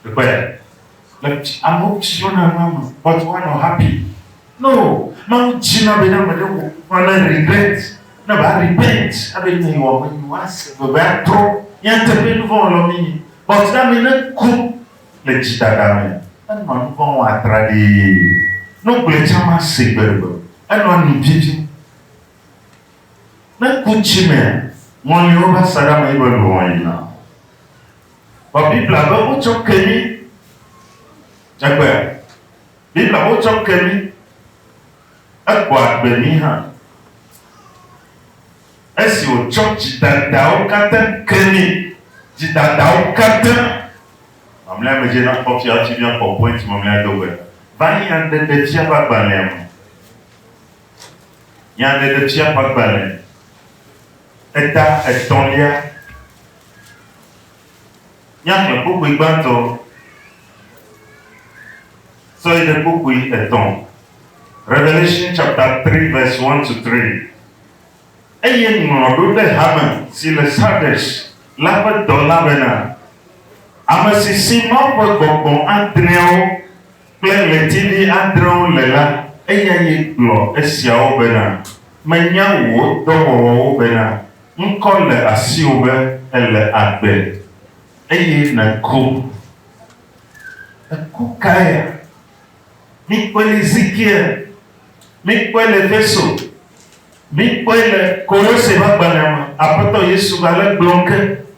Ekpɔe ɖa. Le ame siwo na nua me, but woanɔ happy. No, Mawu dzina be ne ame ɖe wɔ nu kura ne regret, ne va repent abe nya yi wɔm enyo, ase veve atrɔ nyateƒe nuvɔ wɔlɔ mi nyi. But ne ame ne ku le dzi dada me, enɔa nuvɔ wɔm atraɖee. Ne wogblɔe tsa ma se gbe ɖe gbe o. Enɔa nu vivi. Ne ku tsi mea, ŋɔli wo va sa ɖe ame yi be luʋɔ yi na. Vɔ Biblia be wotsɔ ke mi. Egbea. Mí la wotsɔ ke mí, egbɔ agbe mí hã. Esi wòtsɔ dzidadawo katã ke mí, dzidadawo katã, mamlɛa me dze na kpɔ fia hafi míakpɔ point mamlɛa do gbe va Nyaɖeɖefia ƒe agbalẽa me. Nyaɖeɖefia ƒe agbalẽ eta etɔ̃lia. Míaxlẽ kpukpui gbãtɔ sɔ yi ɖe kpukpui etɔ̃, Revelation chapter 3 verse 1 to 3. Eye ŋlɔ ɖo ɖe hame si le Sardes la ƒe dɔla bena, Ame si si Mawu ƒe gbɔgbɔ adreawo, kple ɣletivi adrewo le la, eya ye gblɔ esiawo bena, Menya wò dɔwɔwɔwo bena ŋkɔ le asiwò be èle agbe, eye nèku. Èku kaya? Míkpɔe le Ezekiel, míkpɔe le Efeso, míkpɔe le Kolose ƒe agbalẽa me, Aƒetɔ Yesu gale gblɔm ke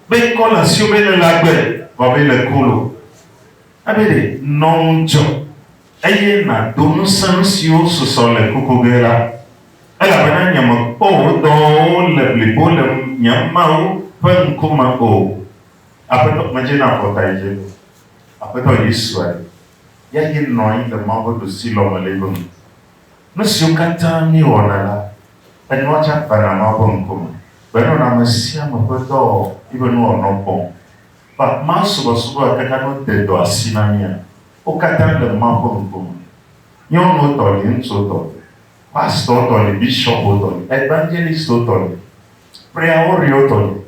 be ŋkɔ le asiwò be nèle agbe, vɔ be nèku lo. Ebe ɖe, nɔ ŋudzɔ, eye nàdo ŋusẽ nu siwo susɔ le kuku ge la, elabena nyemekpɔ wò dɔwɔwɔwo le blibo le nye Mawu ƒe ŋkume o. Aƒetɔ, medze na afɔta yi dze. Aƒetɔ Yesu a yi, ya ye nɔ anyi le Mawu ƒe ɖusi lɔ me le eƒe ŋu. Nu siwo katã míewɔna la, enua tsã vana Mawu ƒe ŋkume, be enɔna ame sia ame ƒe dɔwɔwɔ, eƒe nuwɔnɔ kpɔm. Ba maa subɔsubɔa katã no de dɔ asi na mía. Wo katã le Mawu ƒe ŋkume. Nyɔnuwo tɔ li, ŋutsuwo tɔ li, pastor tɔ li, bishopwo tɔ li, evangelistwo tɔ li, preaoriwo tɔ li,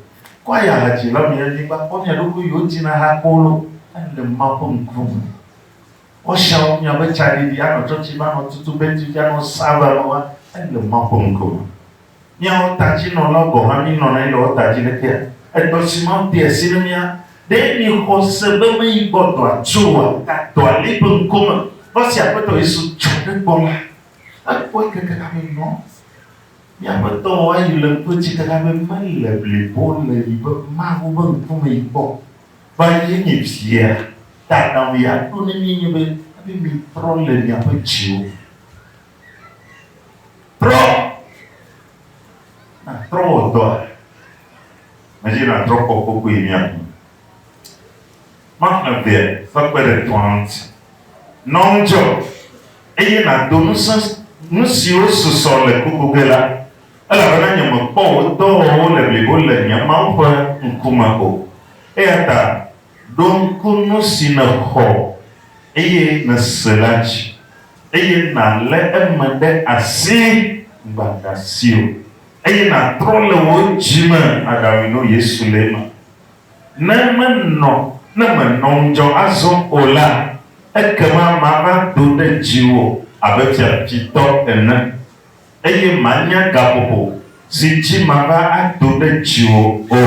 kwaya hadzilawo mi ya miva kpɔ mia ɖokui yiwo tina ha kpɔ lo ele Mawu ƒe ŋkume. Ɔshawo mia be tsaɖiɖi anɔ tsɔtsi va nɔ tutu beti fia nɔ sava nɔ va ele Mawu ƒe ŋkume. Míawo tadzinɔlawo gɔ̃ hã míenɔna anyi le wo ta dzi le kea? Edɔ si Mawu de asi na mía, ɖe miexɔ se be meyi gbɔ dɔa tso oa? Dɔ ali ƒe ŋkɔ me. Dɔ si Aƒetɔ Yesu tsɔ ɖe gbɔ la, ekpɔe keke na be nɔ míaƒe dɔwɔwɔa yi le ŋkɔe tsi ke na be mele blibo o le yi be Mawu ƒe ŋkume yi kpɔ va yi enye via ta na mía ɖo ne míenye be, ebe mitrɔ le miaƒe dziwo. Trɔ. Nàtrɔ wò dɔa. Mezi nàtrɔ kpɔ kpokpoe mía ŋu. Maxlẽ vea ƒe kpeɖeŋutɔa ŋuti. Nɔ ŋudzɔ, eye nàdo ŋusẽ nu siwo susɔ le kuku ge la, elabena nyemekpɔ wò dɔwɔwɔwo le blibo le nye Mawu ƒe ŋkume o. Eyata Ɖo ŋku nu si nèxɔ eye nèse la dzi, eye nàlé eme ɖe asi gbagba si o, eye nàtrɔ le wò dzi me aɖawui no Yesu le eme. Ne menɔ, ne mènɔ ŋudzɔ azɔ o la, ekema mava do ɖe dziwò abe fiafitɔ ene. eye mànya gaƒoƒo si dzi mava ado ɖe dziwò o.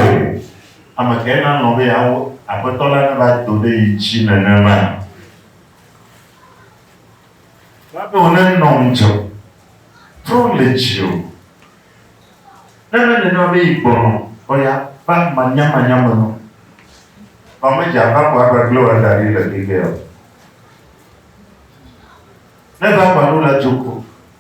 Ame kae nalɔ̃ be yeawu Aƒetɔ la neva do ɖe ye dzi nenema? Wòava be wònenɔ ŋudzɔ trɔ le dziwò, ne menye nenema be yi gbɔnɔ o ya va manyamanya me nu, vɔ medze aʋa ko agbagblẽ wò ada ɖi le Gilgal o. Ne ʋa ƒã ɖo la, dzo ko.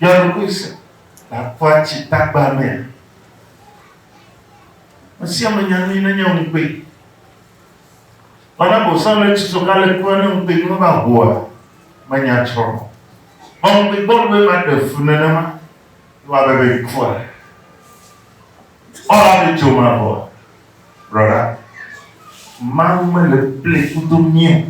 Yɔ ɖokui se ɖakua tsi tagba mea? Mesia me nya nui nenye ŋukpe. Mana bosã le tsi so kale kua ne ŋukpe yi meva hoa menya tsrɔ. Mɔ ŋukpe gbɔ ɖoe ma ɖe fu nenema yi wa bebe yi kua. Ɔ la be tso ma bɔ. Brɔda, mawu me le ple kudo mio.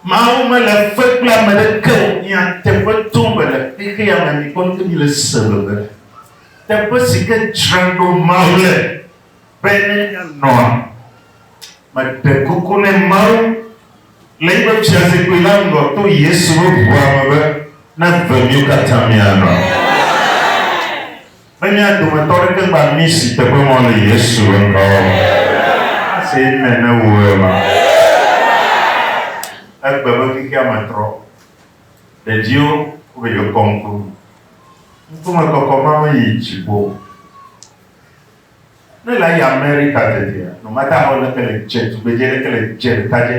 Mawu mele fe kple ame ɖeke o. Nyateƒe tom be le xexea me mi kpɔnuke mi le se be be teƒe si ke dzra ɖo Mawu le be ne mia nɔa. Me ɖe kuku ne Mawu le yiƒe fiazikpui la ŋgɔ to Yesu ƒe ʋua me be na ve miwo katã mia nɔ. Ne mía dometɔ aɖeke gba mí si teƒe mɔ le Yesu ƒe ŋkɔ me, ase amen ne wò ema. Egbe be xexea me trɔ. Ɖeviwo wova yi kɔ ŋku nu. Ŋkume kɔkɔ ma me yi dziƒo. Ne la yi Amerika tetea, no matter how leke le dze tugbedze leke le dze ɖeka dze,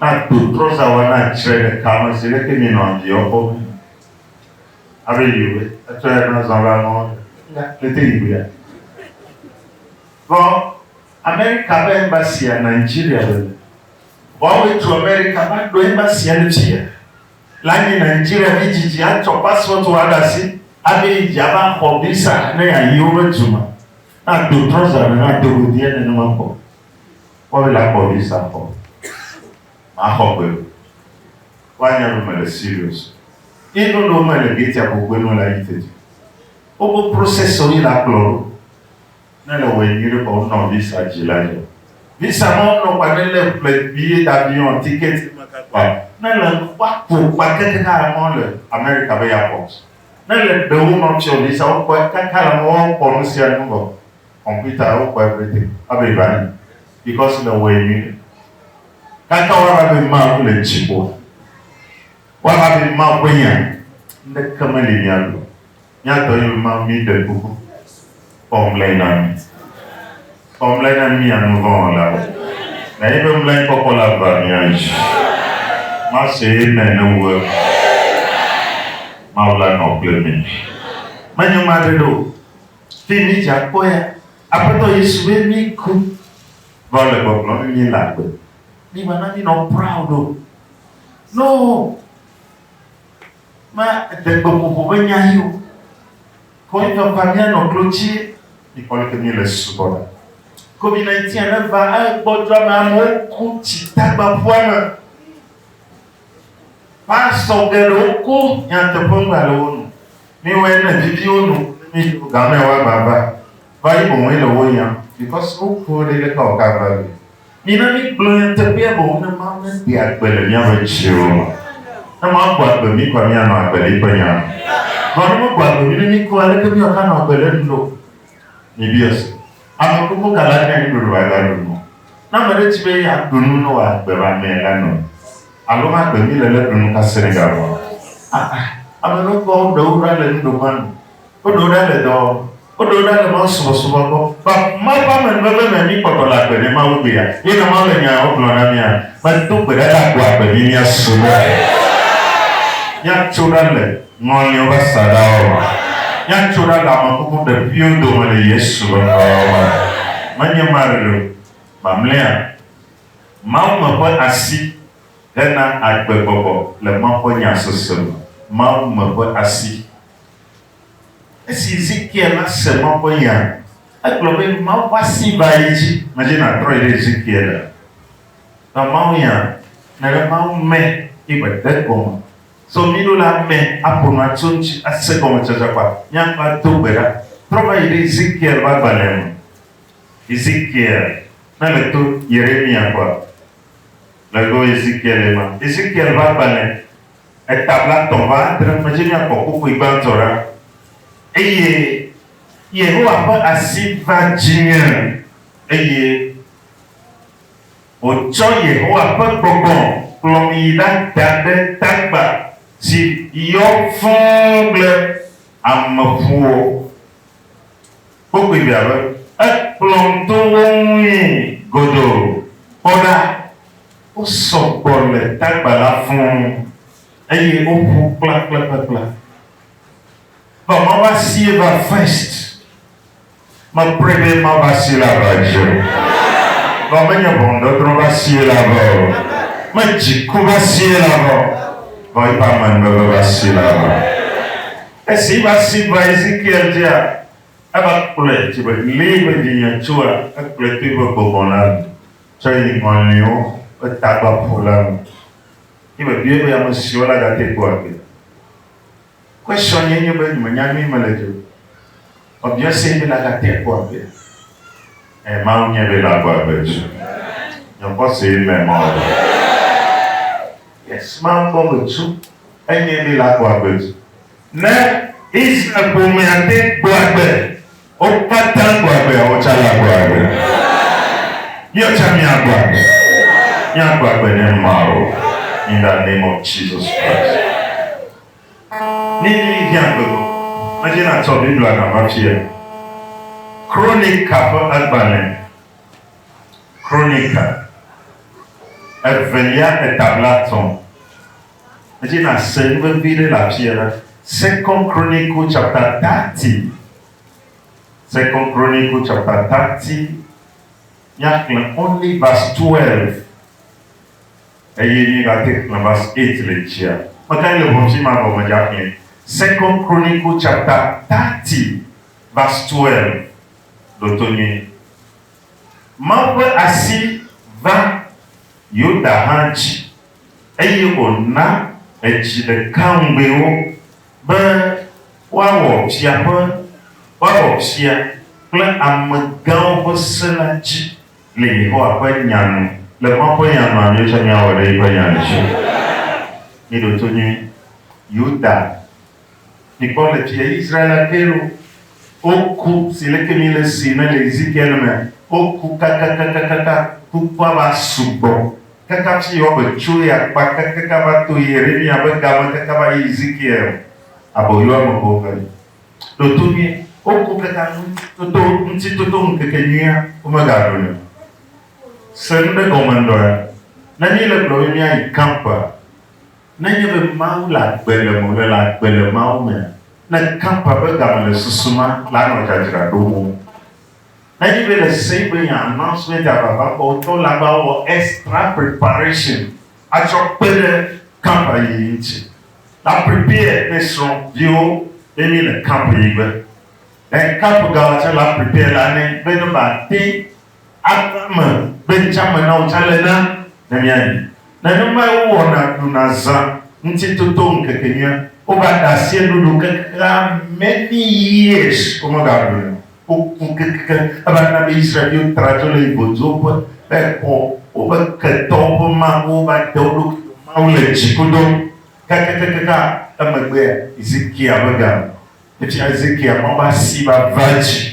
Na do trɔza wana tsre ɖeka me si ɖeke mi nɔ dzi ɔkɔ mi nɔ. Abe yi be etsɔ ya na zɔ la nɔ ya le te yi be ya. Vɔ Amerika be embassy a Nigeria be le. Vɔ awo etso Amerika va ɖo embassy a le tsi ya. La nyi Nigeria be dzi dzi a tsɔ passport wa ɖe asi abe yi dzi a va xɔ visa ne ya yi wobe du me. Na do trɔza me na do godiɛ nenema kpɔ. Kpɔvi la kpɔ visa kɔ maxɔ gbe o wa nya ɖo me le serious ye no ɖo me le gate abo gbe no la yi teti o bo process o yi la kplɔ ɖo ne le wɔ nyuie kɔ o nɔ visa ji la jɔ visa ma o nɔ kwa ne le ple bi ye da bi on ticket ma ka kwa ne le kwa ko kwa keke ka la ma le America be ya pɔ ne le ɖewo nɔ tsɛ o visa o kwa kaka la ma o kpɔ nu sia nu bɔ Kɔmputa wo kpɔe kple te. Ebe va yi. Dikɔ si le wɔe nyui ɖe. Gãtɔ wa la be Mawu le dzi ƒo. Wa la be Mawu ƒe nya. Ŋɖeke me li mia ɖo. Mia dɔ ye be Mawu mi ɖe kuku. Kpɔ ŋlɛ na mi. Kpɔ ŋlɛ na mia nu vɔ wɔ la wo. Na ye be ŋlɛ kpɔkpɔ la va mia dzi. Ma se amen ne wu eme. Mawu la nɔ kple mi. Menye ma ɖe ɖe o. Fi mi dze akpɔ ya, Aƒetɔ Yesu be mi ku vɔ le gbɔgblɔ mi mi le agbe. Mi va na mi nɔ proud o. No. Ma de gbe ƒoƒo be nya yi o. Ko yi va pa mi nɔ klo ci mi kpɔ le ke mi le subɔ na. COVID-19 ne va e gbɔdjɔ me amewo ku ci tagba ƒua me. Pastor geɖewo ko nyateƒe ŋgba le wo nu. Mi wɔe ne vivi wo nu, mi jo game wa gbagba. Va yi boŋ le wo yam because wo ko ɖe le ka o ka va le. Mi na mi gblɔ nyateƒea boŋ ne Mawu ne de agbe le mia be tsiwo me. Ne Mawu gbɔ agbe mi kɔa mi anɔ agbe le eƒe nya me. Vɔ ne me gbɔ agbe mi ne mi ko aleke mi wɔ ka nɔ agbe le nu lo? Mi biɔ se. Ame kuku ka la nya nyui be wòava ɖu nu? Ne ame aɖe di be yeaɖu nu ne wòagbe va mee la nɔe, alo magbe mí le ne ɖu nu ka Senegal ŋua? Aa, ame nukpɔawo ɖewo ɖa le nuɖoƒea nu, woɖewo ɖa le dɔ wɔm, woɖewo ɖa le mawusubɔsubɔ gbɔ. Ba, Mawu ƒe amenuveve me mí kpɔtɔ le agbe ne Mawu gbea, ye ne Mawu le nyawo gblɔm na mía be, Do gbe ɖa be agua gbe mí míasubɔe. Míatso ɖa le Ŋlɔ nye woƒe asaɖawo me. Míatso ɖa le ame kuku ɖeviwo dome le Yesu ƒe ŋkɔawo me. Menye Mari o. Mamlea, Mawume ƒe asi hena agbe gbɔgbɔ le Mawu ƒe nya sese me. Mawume ƒe asi. Esi Ezekiel la se Mawu ƒe nya, egblɔ be Mawu ƒe asi va ye dzi. Medi nàtrɔ yi ɖe Ezekiel a. Nɔ Mawunya me be Mawume ye wòde gɔme. Zɔ mí ɖo le amɛ aƒo nu atso ŋci ase gɔmetsatsa kpa míaŋgba do gbe ɖa. Trɔ va yi ɖe Ezekiel be agbalẽ me. Ezekiel, ne le to Yeremia kɔa, le go Ezekiel ye ma. Ezekiel be agbalẽ eta blatɔ̃ va adre me dzi míakpɔ kpukpui gbãtɔ ɖa. Eye. Yehowa ƒe asi va dzinye eye. Wotsɔ Yehowa ƒe gbɔgbɔ kplɔm yi ɖada ɖe tagba si yɔ fũ kple ameƒuwo. Wokpɔe fia be ekplɔm to wo ŋui godoo. Kpɔ ɖa! Wosɔ gbɔ le tagba la fũ, eye woƒu kplakplakplakpla. Vamava sie va first. Mekpɔe be mava sie la va dzi o. Vɔ menye ʋɔnudɔdrɔ̃ va sie la va o. Me dziku va sie la va o. Vɔ eƒe amenuveve va sie la va. Esi yi va si va Ezekiel dzia, eva kplɔe dzi be lee be vinye tsoa, ekplɔe to eƒe gbɔgbɔ la me tsɔe yi ŋɔliwo ƒe tagbaƒo la me. Yi mebiae be amesiwo la gate kpɔa gbee. Question ye nye be nyimenya nyuie mele dze o. Obviously be la ga te kpɔ agbe. Eh Mawu nye be la gbɔ agbe tsu. Nye kpɔ se amen ma o ɖe. Yes Mawu gbɔ agbe tsu enye be la gbɔ agbe tsu. Ne Israel ƒomea te gbɔ agbe, wo kata gbɔ agbea wo tsa la gbɔ agbe. Mia tsa mia gbɔ agbe. Mia gbɔ agbe ne Mawu in the name of Jesus Christ. Ni ni hiã gbe go mɛdje na tsɔ Biblia na va tsi yɛ? Kronika ƒe agbalẽ Kronika evelia etabla tɔ̃ mɛdje na se nu vevi ɖe le afi yɛ na Second Chronicle chapter thirty Second Chronicle chapter thirty mía xlẽ only verse twelve Eye mi va te xlẽ verse eight le dzia? Meka le ʋɔn fi ma vɔ me dza xlẽ. Second Chronicle chapter thirty verse twelve ɖo to nyuie. Mawu ƒe asi va Yuda hã dzi eye wòna edzi ɖeka ŋugbee wo be woawɔ fia ƒe, woawɔ fia kple amegãwo ƒe se la dzi. Le Yehowa ƒe Nya nu. Le Mawu ƒe Nya nua, míetsɔ mía wɔ ɖe Yiƒe Nya ŋuti. Míeɖo to nyuie. Yuda, mikpɔ le fie Yisraela ke ɖo. Woku si leke mi le si me le Ezekiel me. Woku kakakakakaka. Kukua va sugbɔ kaka fi yi woame tso ye akpa kakaka va to Yeremiya ƒe ga me kaka va yi Ezekiel aboyoame ƒe ƒe. Toto nyuie. Woku ke ta ŋu toto ŋuti toto ŋukeke nyuia womegaɖu ni o. Se nu ɖe gɔme ŋdɔ ya. Ne mi le gblɔ be mia yi camp a, ne nye be Mawu le agbe le me wole le agbe le Mawu mea, ne camp a ƒe game le susu ma la nɔ dzadzra ɖo mo. Ne nye be le se be nye announcement a vava kɔ wotɔ la va wɔ extra preparation. atsɔ kpe ɖe kampaniyi ŋuti. Na prepare ne srɔ viwo ne mi le camp yi gbe. Ne camp ga wa tsɛ la prepare la ne be ne ba te ava me be ŋtsa me na wo tsɛ le na ne mia yi. Ne ne ma wo wɔ na ɖu na zã ŋuti toto ŋkeke nyuia wo va ɖasie ɖuɖu keke ame ni years wo me ga ɖu nɛ o. Woku kekekem elabena be Israel-viwo tra dzo le Ivoduwo ƒe be kɔ woƒe ketɔwo ƒe mawu va de wo ɖokui me mawu le dziƒodo. Kakakakaka emegbea Ezekiel ƒe ga me tsi Ezekiel mawu ƒe asi va va dzi.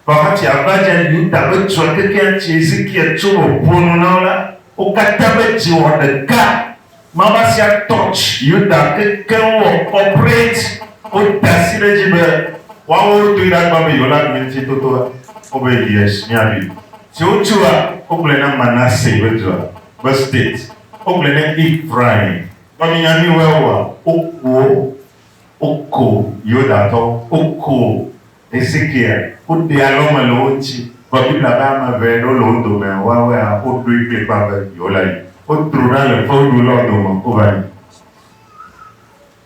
Vɔa hatsi ava dzi Yuda ƒe dua kekeŋ tsi Ezekiel tso me ƒo nu na wo la, wo katã ƒe dzi wɔ ɖeka. Mama sia touch Yuda kekeŋ wɔ operate woda asi ɖe edzi be woawo wodoe ɖe agba be yewola ɖu ŋuti totoa? Wobe yes míaɖui. Si wotua wogblɔe na Manasse be dua be state wogblɔe na Ephraim. Vɔ mi nya nuiwoe wowa? Woku wo, woku Yudatɔwo, woku Ezekiel ku ɖi alo mele wo ŋuti vɔ Biblia be ame eve ɖewo le wo dome woawɔe a wo ɖoe kplikpaa be yewo la yi. Wo tro ɖa le fewuɖu lɔ dome wo va yi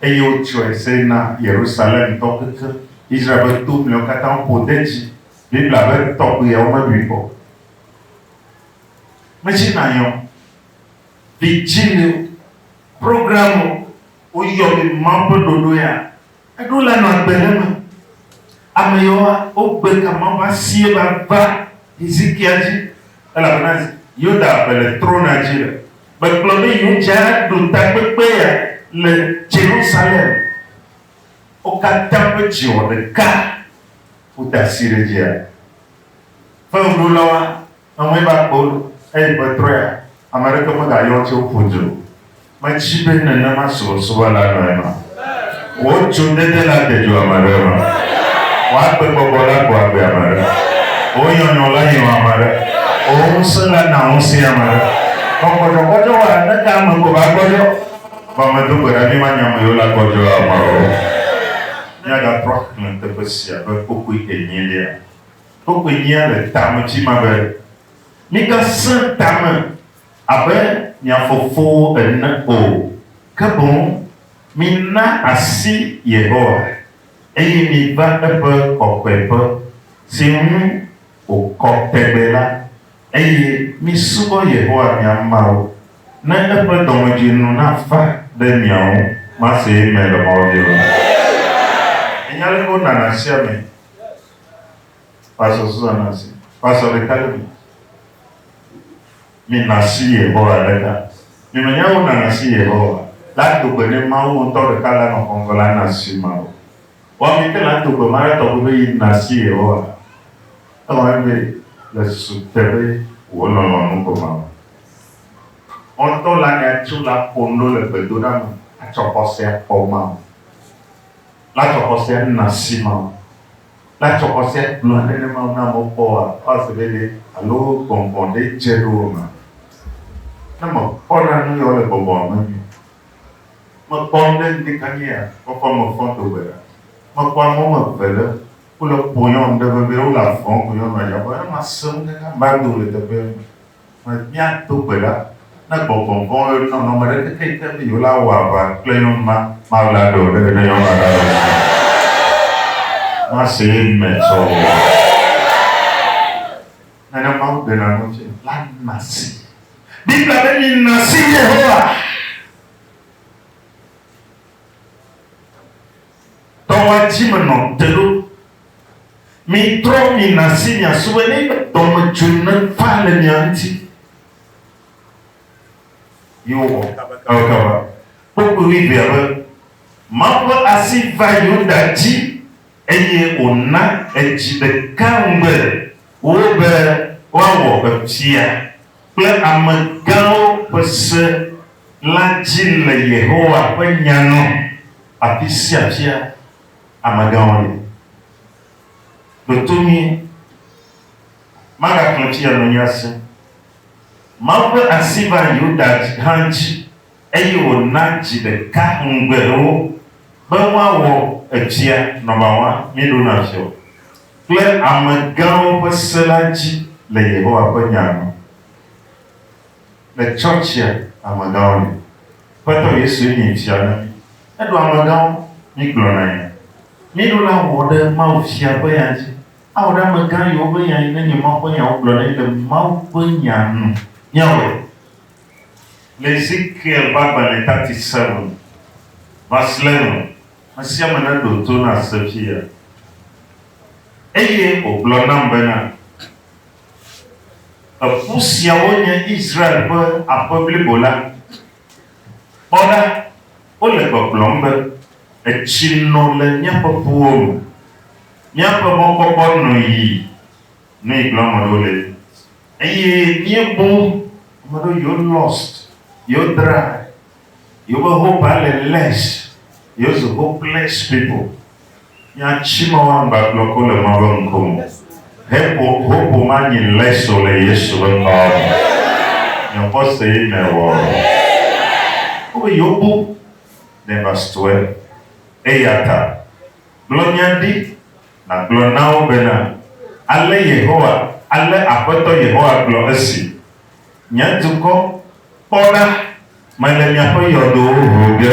eye wo tsɔe se na Yerusalem tɔ kekeŋ. Israel ƒe to mlewo katã wo ƒo de dzi. Biblia be tɔgbuiawo me ɖui kpɔ. Mesi na yɔ vidzĩliwo, programme wo yɔ be Mawu ƒe ɖoɖo ya. Eɖo la nɔ agbe ɖe me. Ame yawoa, wogbe ka Mawu ƒe asie va va Hizikia dzi, elabena Yuda ƒe le trona dzi le. Megblɔ be yewodze aɖo takpekpea le Yerusalem. Wo katã ƒe dzi wɔ ɖeka ƒo tasiɖedzia. Fewuɖolawoa. Eŋue va kpe wo ɖo. Eyi ƒe trɔea, ame aɖeke megayɔ wo tso ƒu dzi o. Mèdi be nenema subɔsubɔla nɔ ema? Wò dzodede la de dzo ame aɖe ema? Wò agbegbɔgbɔ la gbɔ agbe ame aɖe? Wò nyɔnyrɔ la nyrɔ ame aɖe? Wò ŋusẽ la na ŋusẽe ame aɖe? Vɔ gbɔdzɔgbɔdzɔ wɔa ne ke ame ko va gbɔdzɔ. Vɔ medo gbe ɖa be manya ame yiwo la gbɔdzɔ ame o. Míagatrɔ axlẽ teƒe sia ƒe kpokpui enyilia. Wokoe nyia le tame tsima be, Migasẽ tame abe mia fofowo ene o, ke boŋ mina asi Yehowa, eye miva eƒe kɔkɔeƒe, si ŋu wòkɔ tegbe la, eye misubɔ Yehowa mia Mawu, ne eƒe dɔmedzinu nava ɖe mia ŋu. Masee mele mɔ biom. Ènya ale wonana asiamee. Pastor Susan Nancy, Pastor ɖeka ɖe mi. Mina si Yehowa ɖe ta. Mi me nya wo nana si Yehowa. La do gbe ne Mawu ŋutɔ ɖeka la nɔ xɔŋgɔ la na si ma wo. Wa mi ke la do gbe ma ɖe tɔgbe be yi na si Yehowa. Ewɔ mi be le susu te be wo nɔ lɔ nu ko ma wo. Wo ŋutɔ la nya tso la ƒo nu ɖo le gbedoɖa me atsɔ xɔsea kpɔ ma wo. La tsɔ xɔsea na si Mawu. La tsɔ xɔsea gblɔe ɖe ne Mawu na amewo kpɔ woa kpɔ ase be ɖe alo gbɔngbɔn ɖe dze ɖo wo mea. Ne me kpɔ na nu yawo le gbɔngbɔn me mea, me kpɔ nu ɖe ŋdi kanye ya kpɔkpɔ me fɔn do gbe ɖa. Me kpɔ ame woame eve ɖe wole kpoyɔm ɖe vevie, wole avɔm kpoyɔm nɔ ya be, ne ma se nu kaka ma do le teƒea me. Mefia to gbe ɖa ne gbɔgbɔ vɔ̃wo yɔ nɔnɔme ɖe kekeake be yewolawɔ aʋa kple nyɔnu ma. Mawla ɖe o ɖeke ne nyɔnua ɖe alɔ̃ wu mí. Mase Amen tsɔ o. Nene Mawu ɖena nu tse la na si. Biblia be mina si Yehowa. Tɔ va dzi me nɔ te ɖo. Mi trɔ mi nasi mia sube ne dɔ me dzu ne va le mia ŋuti. Yi wɔ kaba kaba kaba. Kpokpo mi vea be, Mawu ƒe asi va Yuda dzi eye wòna edzi ɖeka ŋugbe wo be woawɔ efia kple ame gãwo ƒe se la dzi le Yehowa ƒe nya nu. Afi sia fia amegãwo le. Ɖo to nyuie. Magaklɔ tsi anɔ mía si. Mawu ƒe asi va Yuda hã dzi, eye wòna dzi ɖeka ŋugbe wo be woawɔ etsia nɔbawa mieɖo na fiɔ kple amegãwo ƒe se la dzi le Yehowa ƒe nya nu. Le tsɔtsia amegãwo li. Aƒetɔ Yesue nye fia na mí. Eɖo amegãwo, mí gblɔ na ya. Mí ɖo la wɔ ɖe Mawu fia ƒe ya dzi. Awɔ ɖe amegã yiwo ƒe nya yi ne nye Mawu ƒe nyawo gblɔ ɖe le Mawu ƒe nya nu. Míawɔe le Ezekiel ƒe agbalẽ thirty seven, verse eleven. Ame sia ame neɖo to nase fia. Eye wògblɔ nam bena. Eƒu siawo nye Israel ƒe aƒe blibo la. Kpɔ ɖa, wole gbɔgblɔm be, Etsi no le míaƒe ƒuwo me, míaƒe mɔkpɔkpɔ no yi. Nu yi gblɔm ame aɖewo le nye esi. Eye míebu ame aɖewo yewo lost, yewo dry. Yo be ho ba le les yo zo ho bless people. Nya tsi me wa ŋgba gblɔ ko le ma be ŋko me. He bo ho bo ma nyi les o le yesu be ŋkɔ me. Nyo kpɔ se yi me wɔ. Wo be yo bo ne va stue. Eyata gblɔ nya ɖi na gblɔ na wo be na ale yehowa ale aƒetɔ yehowa gblɔ esi Nye dukɔ, kpɔ ɖa, mele miaƒe yɔdowo ʋum ɖe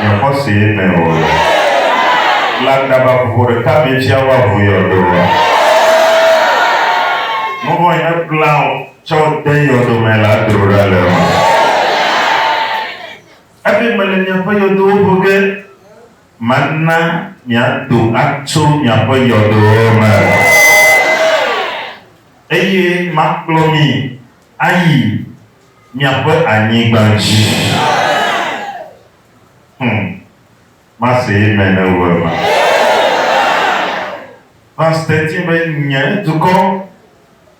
nye xɔsee me o. Le aglaba vovo ɖeka me tsia woaʋu yɔdoa? Nu vɔ̃e mekpla o tsɔ de yɔdo me la dro ɖa le eme. Ebe mele miaƒe yɔdowo ʋum ɖe, mana miado atso miaƒe yɔdowo me. Eye makplɔ mi ayi miaƒe anyigba dzi. Hum. Mase amen eŋu ema. Verse thirteen be, Nye dukɔ,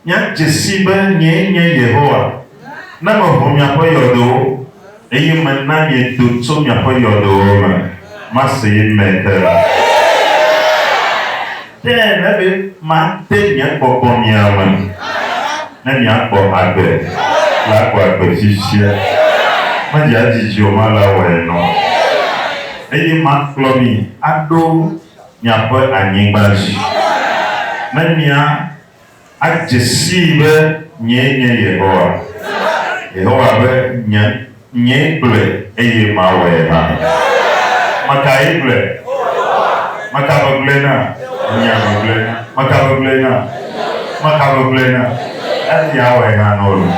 miadze sii be nyee nye Yehowa, ne meho miaƒe yɔdowo. Eye mena miedo tso miaƒe yɔdowo me. Mase ye me ɖe. Ke ele be mate nye gbɔgbɔ mia me, ne miagbɔ agbe, le agbɔ agbe fifia. Medze adzidzi o, male awɔe nɔ. Eye makplɔ mi aɖo miaƒe anyigba dzi, ne mia. Adze sii be nyee nye Yehowa. Yehowa be, Nye, nyee gblɔe, eye mawɔe hã. Meka ye gblɔe? Meka gbegblẽ na? Nya gbegblẽ na. Meka gbegblẽ na? Meka gbegblẽ na? Ebe yeawɔe na nɔwo loo.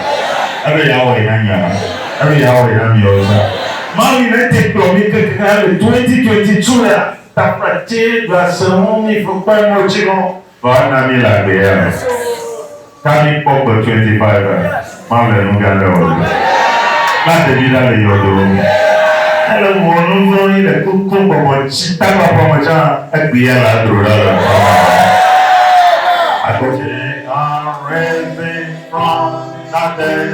Ebe yeawɔe na nye hã. Ebe yeawɔe na miawo zã. Mawu yi nete kplɔ mi kekeŋ le 2022 ya, takpla tse ɖua se ŋu mi ƒe kpɔe ŋɔtsi nɔ. Tɔ ana mí le agbe ya me. Ta mí kpɔ gbe twenty five a ma ble nu gã ɖe ɔ do. Kpla te ɖi ɖa le yɔdo wo me. Ele ŋu ɔ nu vlɔ yi le koko bɔbɔ ci ta kpla ƒua me can egbe ya la dro ɖa le ŋua me nɔ mi. Akɔ. Take a reason from nothing.